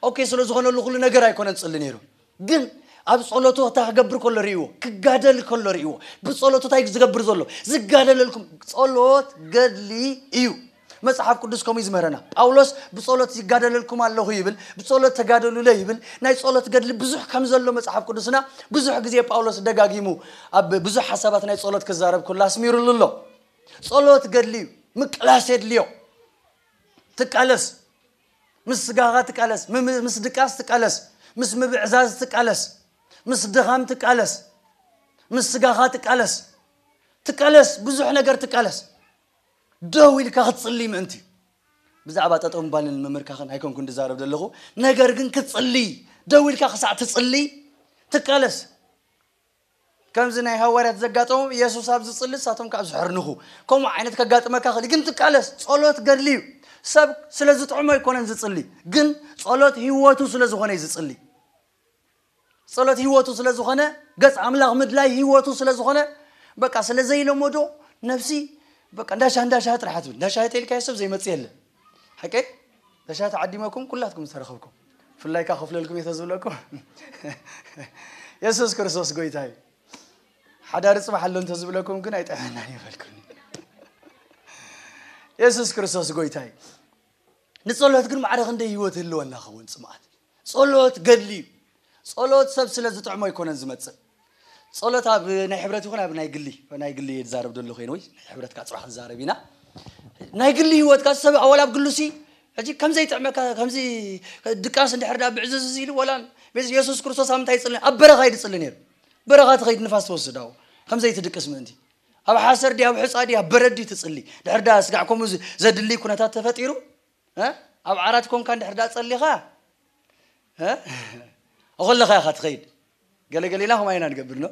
ኦኬ ስለ ዝኾነሉ ኩሉ ነገር ኣይኮነን ዝጽሊ ነይሩ ግን ኣብ ጸሎቱ እታ ክገብር ከሎ ርእይዎ ክጋደል ከሎ ርእይዎ ብጸሎቱ እንታይ ዝገብር ዘሎ ዝጋደለልኩም ጸሎት ገድሊ እዩ መጽሓፍ ቅዱስ ከምኡ እዩ ዝምህረና። ጳውሎስ ብጸሎት ይጋደለልኩም ኣለኹ ይብል፣ ብጸሎት ተጋደሉለይ ይብል። ናይ ጸሎት ገድሊ ብዙሕ ከም ዘሎ መጽሓፍ ቅዱስና ብዙሕ ግዜ ጳውሎስ ደጋጊሙ ኣብ ብዙሕ ሓሳባት ናይ ጸሎት ክዛረብ ከሎ ኣስሚሩሉ ኣሎ። ጸሎት ገድሊ እዩ፣ ምቅላስ የድልዮ። ትቃለስ፣ ምስ ስጋኻ ትቃለስ፣ ምም- ምስ ድቃስ ትቃለስ፣ ምስ ምብዕዛዝ ትቃለስ፣ ምስ ድኻም ትቃለስ፣ ምስ ስጋኻ ትቃለስ፣ ትቃለስ፣ ብዙሕ ነገር ትቃለስ። ደው ኢልካ ክትጽልይ ምእንቲ። ብዛዕባ ጠጠው ምባልን ምምርካኽን ኣይኮንኩን ድዛረብ ደለኹ፣ ነገር ግን ክትጽልይ፣ ደው ኢልካ ክሳዕ ትጽልይ ትቃለስ። ከምዚ ናይ ሃዋርያት ዘጋጠሞም፣ የሱስ ኣብ ዝጽሊ ንሳቶም ከኣ ዝሕርንኹ፣ ከምኡ ዓይነት ከጋጥመካ ይኽእል እዩ፣ ግን ትቃለስ። ጸሎት ገድሊ እዩ። ሰብ ስለ ዝጥዕሞ ኣይኮነን ዝጽሊ፣ ግን ጸሎት ህይወቱ ስለ ዝኾነ እዩ ዝጽሊ። ጸሎት ህይወቱ ስለ ዝኾነ ገጽ ኣምላኽ ምድላይ ህይወቱ ስለ ዝኾነ በቃ ስለ ዘይለመዶ ነፍሲ በቃ እንዳሻ እንዳሻ ጥራሕ ትብል እንዳሻ ተልካዮ ሰብ ዘይመጽእ የለ ሓቀይ እንዳሻ ተዓዲመኩም ኩላትኩም ዝተረኸብኩም ብፍላይ ከዓ ከፍለልኩም እየ ተዝብለኩም የሱስ ክርስቶስ ጎይታ እዩ ሓዳሪ ፅባሕ ኣሎ እንተዝብለኩም ግን ኣይጠዕመናን ይበልኩኒ የሱስ ክርስቶስ ጎይታ እዩ ንጸሎት ግን ማዕረ ክንደይ ህይወት ህልወና ኸውን ጽምኣት ጸሎት ገድሊ እዩ። ጸሎት ሰብ ስለ ዝጥዕሞ ኣይኮነን ዝመጽእ። ጸሎት ኣብ ናይ ሕብረት ይኹን ኣብ ናይ ግሊ ናይ ግሊ እየ ዝዛረብ ዘለኹ ወይ ናይ ሕብረት ካዓ ጽባሕ ዝዛረብ ኢና ናይ ግሊ ህይወትካ ሰብ ኣወል ኣብ ግሉሲ ሕጂ ከምዘይ ጥዕመካ ከምዚ ድቃስ እንድሕር ዳኣ ብዕዝዝ ኢሉ ወላ ቤት የሱስ ክርስቶስ ኣብ ምንታይ ይጽሊ ኣብ በረኻ እዩ ዝጽሊ ነይሩ በረኻ ትኸይድ ንፋስ ትወስድ ኣብኡ ከምዘይ ትድቅስ ምእንቲ ኣብ ሓሰር ድያ ኣብ ሕጻ ድያ ኣብ በረድ ትጽሊ ድሕር ዳኣ ስጋዕ ከምኡ ዘድሊ ኩነታት ተፈጢሩ ኣብ ዓራት ኮንካ እንድሕር ድኣ ጸሊኻ ኣኾለኻ ኢኻ ትኸይድ ገለ ገሌና ከምኣ ኢና ንገብር ኖ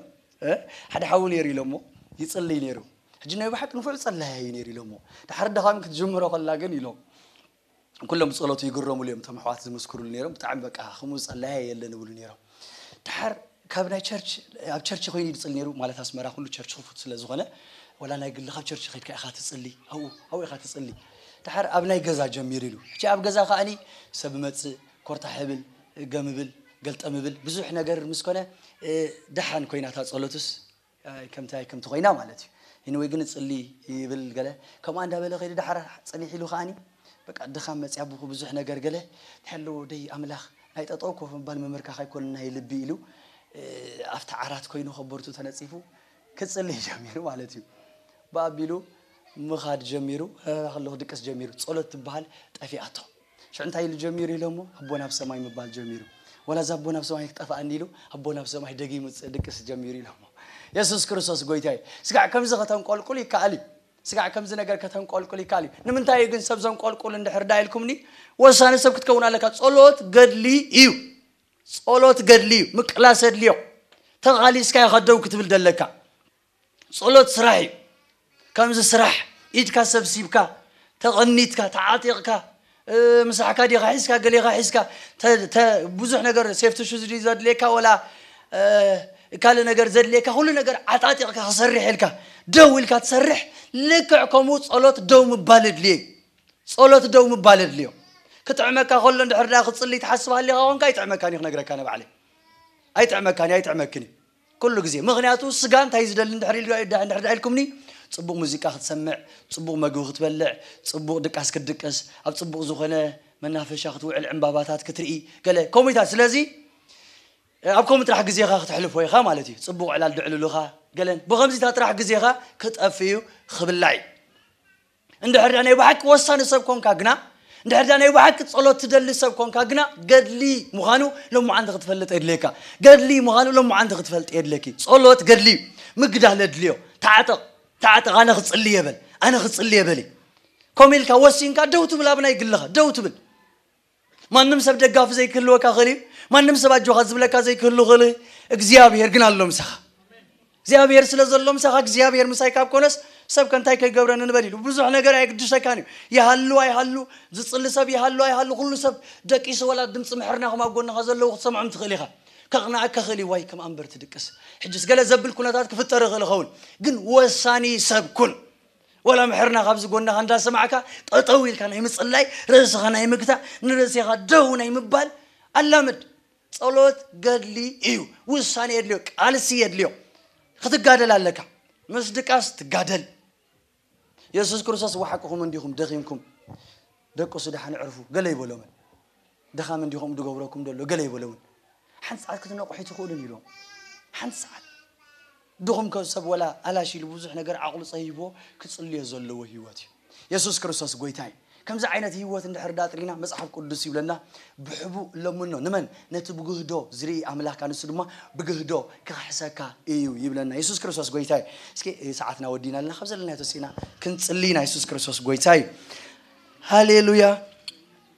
ሓደ ሓዊ ነይሩ ኢሎሞ ይጽልይ ነይሩ ሕጂ ናይ ብሓቂ ንፉዕ ጸላያ እዩ ነይሩ ኢሎሞ ድሓር ድኻሚ ክትጅምሮ ከላ ግን ኢሎም ኩሎም ጸሎቱ ይግረሙሉ እዮም እቶም ኣሕዋት ዝምስክሩሉ ነይሮም ብጣዕሚ በቃ ከምኡ ጸላያ የለን ይብሉ ነይሮም ድሓር ካብ ናይ ቸርች ኣብ ቸርች ኮይኑ ድጽሊ ነሩ ማለት ኣስመራ ኩሉ ቸርች ክፉት ስለ ዝኮነ ወላ ናይ ግልካ ኣብ ቸርች ከድካ ኢካ ትጽሊ ኣብኡ ኣብኡ ኢካ ትጽሊ ድሓር ኣብ ናይ ገዛ ጀሚር ኢሉ ሕጂ ኣብ ገዛ ከኣኒ ሰብ መጽእ ኮርታሕ እብል ገም እብል ገልጠም እብል ብዙሕ ነገር ምስ ኮነ ድሓን ኮይና እታ ጸሎትስ ከምታይ ከምቲ ኮይና ማለት እዩ ሂንወይ ግን እጽሊ ይብል ገለ ከምኣ እንዳበለ ከይዱ ዳሓር ጽኒሕ ኢሉ ከኣኒ በቃ ድኻም መጽያ ብኹ ብዙሕ ነገር ገለ ሄሎ ደይ ኣምላኽ ናይ ጠጠው ኮፍ ምባል ምምርካኽ ኣይኮነን ናይ ልቢ ኢሉ ኣብቲ ዓራት ኮይኑ ከቦርቱ ተነጺፉ ክጽሊ ጀሚሩ ማለት እዩ ብኣቢሉ ምኻድ ጀሚሩ ረራ ከሎ ክድቅስ ጀሚሩ ጸሎት ትብሃል ጠፊኣቶ ሽዑ እንታይ ኢሉ ጀሚሩ ኢሎሞ ኣቦና ኣብ ሰማይ ምባል ጀሚሩ ወላ እዛ ኣቦና ኣብ ሰማይ ክጠፋኣኒ ኢሉ ኣቦና ኣብ ሰማይ ደጊሙ ድቅስ ጀሚሩ ኢሎሞ የሱስ ክርስቶስ ጎይታ እዩ ስጋዕ ከምዚ ከተንቆልቁል ይከኣል እዩ ስጋዕ ከምዚ ነገር ከተንቆልቁል ይከኣል እዩ ንምንታይ እዩ ግን ሰብ ዘንቆልቁል እንድሕር ዳ ኢልኩምኒ ወሳኒ ሰብ ክትከውን ኣለካ ጸሎት ገድሊ እዩ ጸሎት ገድሊ እዩ ምቅላስ የድልዮ ተቓሊስካ ኢኻ ደው ክትብል ደለካ ጸሎት ስራሕ እዩ ከምዚ ስራሕ ኢድካ ሰብሲብካ ተቐኒትካ ተዓጢቕካ ምሳሕካ ዲኻ ሒዝካ ገሌኻ ሒዝካ ብዙሕ ነገር ሴፍቲ ሹዝ ድዩ ዘድልየካ ወላ ካልእ ነገር ዘድልየካ ኩሉ ነገር ዓጣጢቕካ ክሰርሕ ኢልካ ደው ኢልካ ትሰርሕ ልክዕ ከምኡ ጸሎት ደው ምባል እድልየ ጸሎት ደው ምባል እድልዮ ክጥዕመካ ከሎ እንድሕር ዳ ክጽልይ ትሓስብ ሃሊኻ ኮንካ ኣይጥዕመካን እዩ ክነግረካ ንባዕለይ ኣይጥዕመካን እዩ ኣይጥዕመክን እዩ ኩሉ ግዜ ምኽንያቱ ስጋ እንታይ እዩ ዝደሊ እንድሕር ኢሉ እንድሕር ድኣ ኢልኩምኒ ጽቡቕ ሙዚቃ ክትሰምዕ ጽቡቕ መግቢ ክትበልዕ ጽቡቕ ድቃስ ክትድቅስ ኣብ ጽቡቕ ዝኾነ መናፈሻ ክትውዕል ዕንባባታት ክትርኢ ገለ ከምኡታት ስለዚ ኣብ ከምኡ ጥራሕ ግዜኻ ክተሕልፎ ኢኻ ማለት እዩ ጽቡቕ ዕላል ድዕልሉኻ ገለን ብኸምዚታት ጥራሕ ግዜኻ ክጠፍእ እዩ ክብላዕ እዩ እንድሕር ድኣ ናይ ብሓቂ ወሳኒ ሰብ ኰንካ ግና፣ እንድሕር ድኣ ናይ ብሓቂ ጸሎት ትደሊ ሰብ ኰንካ ግና፣ ገድሊ ምዃኑ ሎምዓንቲ ክትፈልጥ የድልየካ። ገድሊ ምዃኑ ሎምዓንቲ ክትፈልጢ የድልየኪ። ጸሎት ገድሊ እዩ። ምግዳል የድልዮ። ተዓጠቕ፣ ተዓጠቕ፣ ኣነ ክጽሊ እየ በል፣ ኣነ ክጽሊ እየ በሊ። ከምኡ ኢልካ ወሲንካ ደው ትብል ኣብ ናይ ግልኻ፣ ደው ትብል። ማንም ሰብ ደጋፊ ዘይክህልወካ ክእል እዩ ማንም ሰብ ኣጆካ ዝብለካ ዘይክህሉ ክእል እግዚኣብሄር ግን ኣሎ ምሳኻ እግዚኣብሄር ስለ ዘሎ ምሳኻ እግዚኣብሄር ምሳይ ካብ ኮነስ ሰብ ከንታይ ከይገብረኒ ንበል ኢሉ ብዙሕ ነገር ኣየግድሰካን እዩ ይሃሉ ኣይሃሉ ዝፅሊ ሰብ ይሃሉ ኣይሃሉ ኩሉ ሰብ ደቂሱ ወላ ድምፂ ምሕርናኹም ኣብ ጎንኻ ዘለዉ ክትሰምዖም ትኽእል ኢኻ ከቕንኣካ ክእል እዩ ዋይ ከም ኣንበር ትድቅስ ሕጅስ ገለ ዘብል ኩነታት ክፍጠር ይኽእል ይኸውን ግን ወሳኒ ሰብ ኩን ዋላ ምሕርና ካብዚ ጎንኻ እንዳሰማዕካ ጠጠው ኢልካ ናይ ምጽላይ ርእስኻ ናይ ምግታእ ንርእሴኻ ደው ናይ ምባል ኣላምድ። ጸሎት ገድሊ እዩ ውሳኔ የድልዮ ቃልሲ የድልዮ ክትጋደል ኣለካ ምስ ድቃስ ትጋደል የሱስ ክርስቶስ ዋሓቅኹም እንዲኹም ደኺምኩም ደቅሱ ደሓን ዕርፉ ገለ ኣይበሎምን ድኻም እንድዩ ከምኡ ዝገብረኩም ዘሎ ገለ ይበለውን ሓንቲ ሰዓት ክትነቕሑ ኣይትኽእሉን ኢሎም ሓንቲ ሰዓት ድኹም ከ ሰብ ወላ ኣላሽ ኢሉ ብዙሕ ነገር ዓቕሉ ጸይይብዎ ክጽልዮ ዘለዎ ህይወት እዩ የሱስ ክርስቶስ ጎይታ እዩ ከምዚ ዓይነት ህይወት እንድሕር ዳጥሪና መጽሓፍ ቅዱስ ይብለና ብሕቡእ ለምኖ ንመን ነቲ ብግህዶ ዝርኢ ኣምላካ ንሱ ድማ ብግህዶ ክኽሕሰካ እዩ ይብለና የሱስ ክርስቶስ ጎይታ እዩ እስኪ ሰዓትና ወዲና ኣለና ካብ ዘለና ተሲእና ክንጽልይ ኢና የሱስ ክርስቶስ ጎይታ እዩ ሃሌሉያ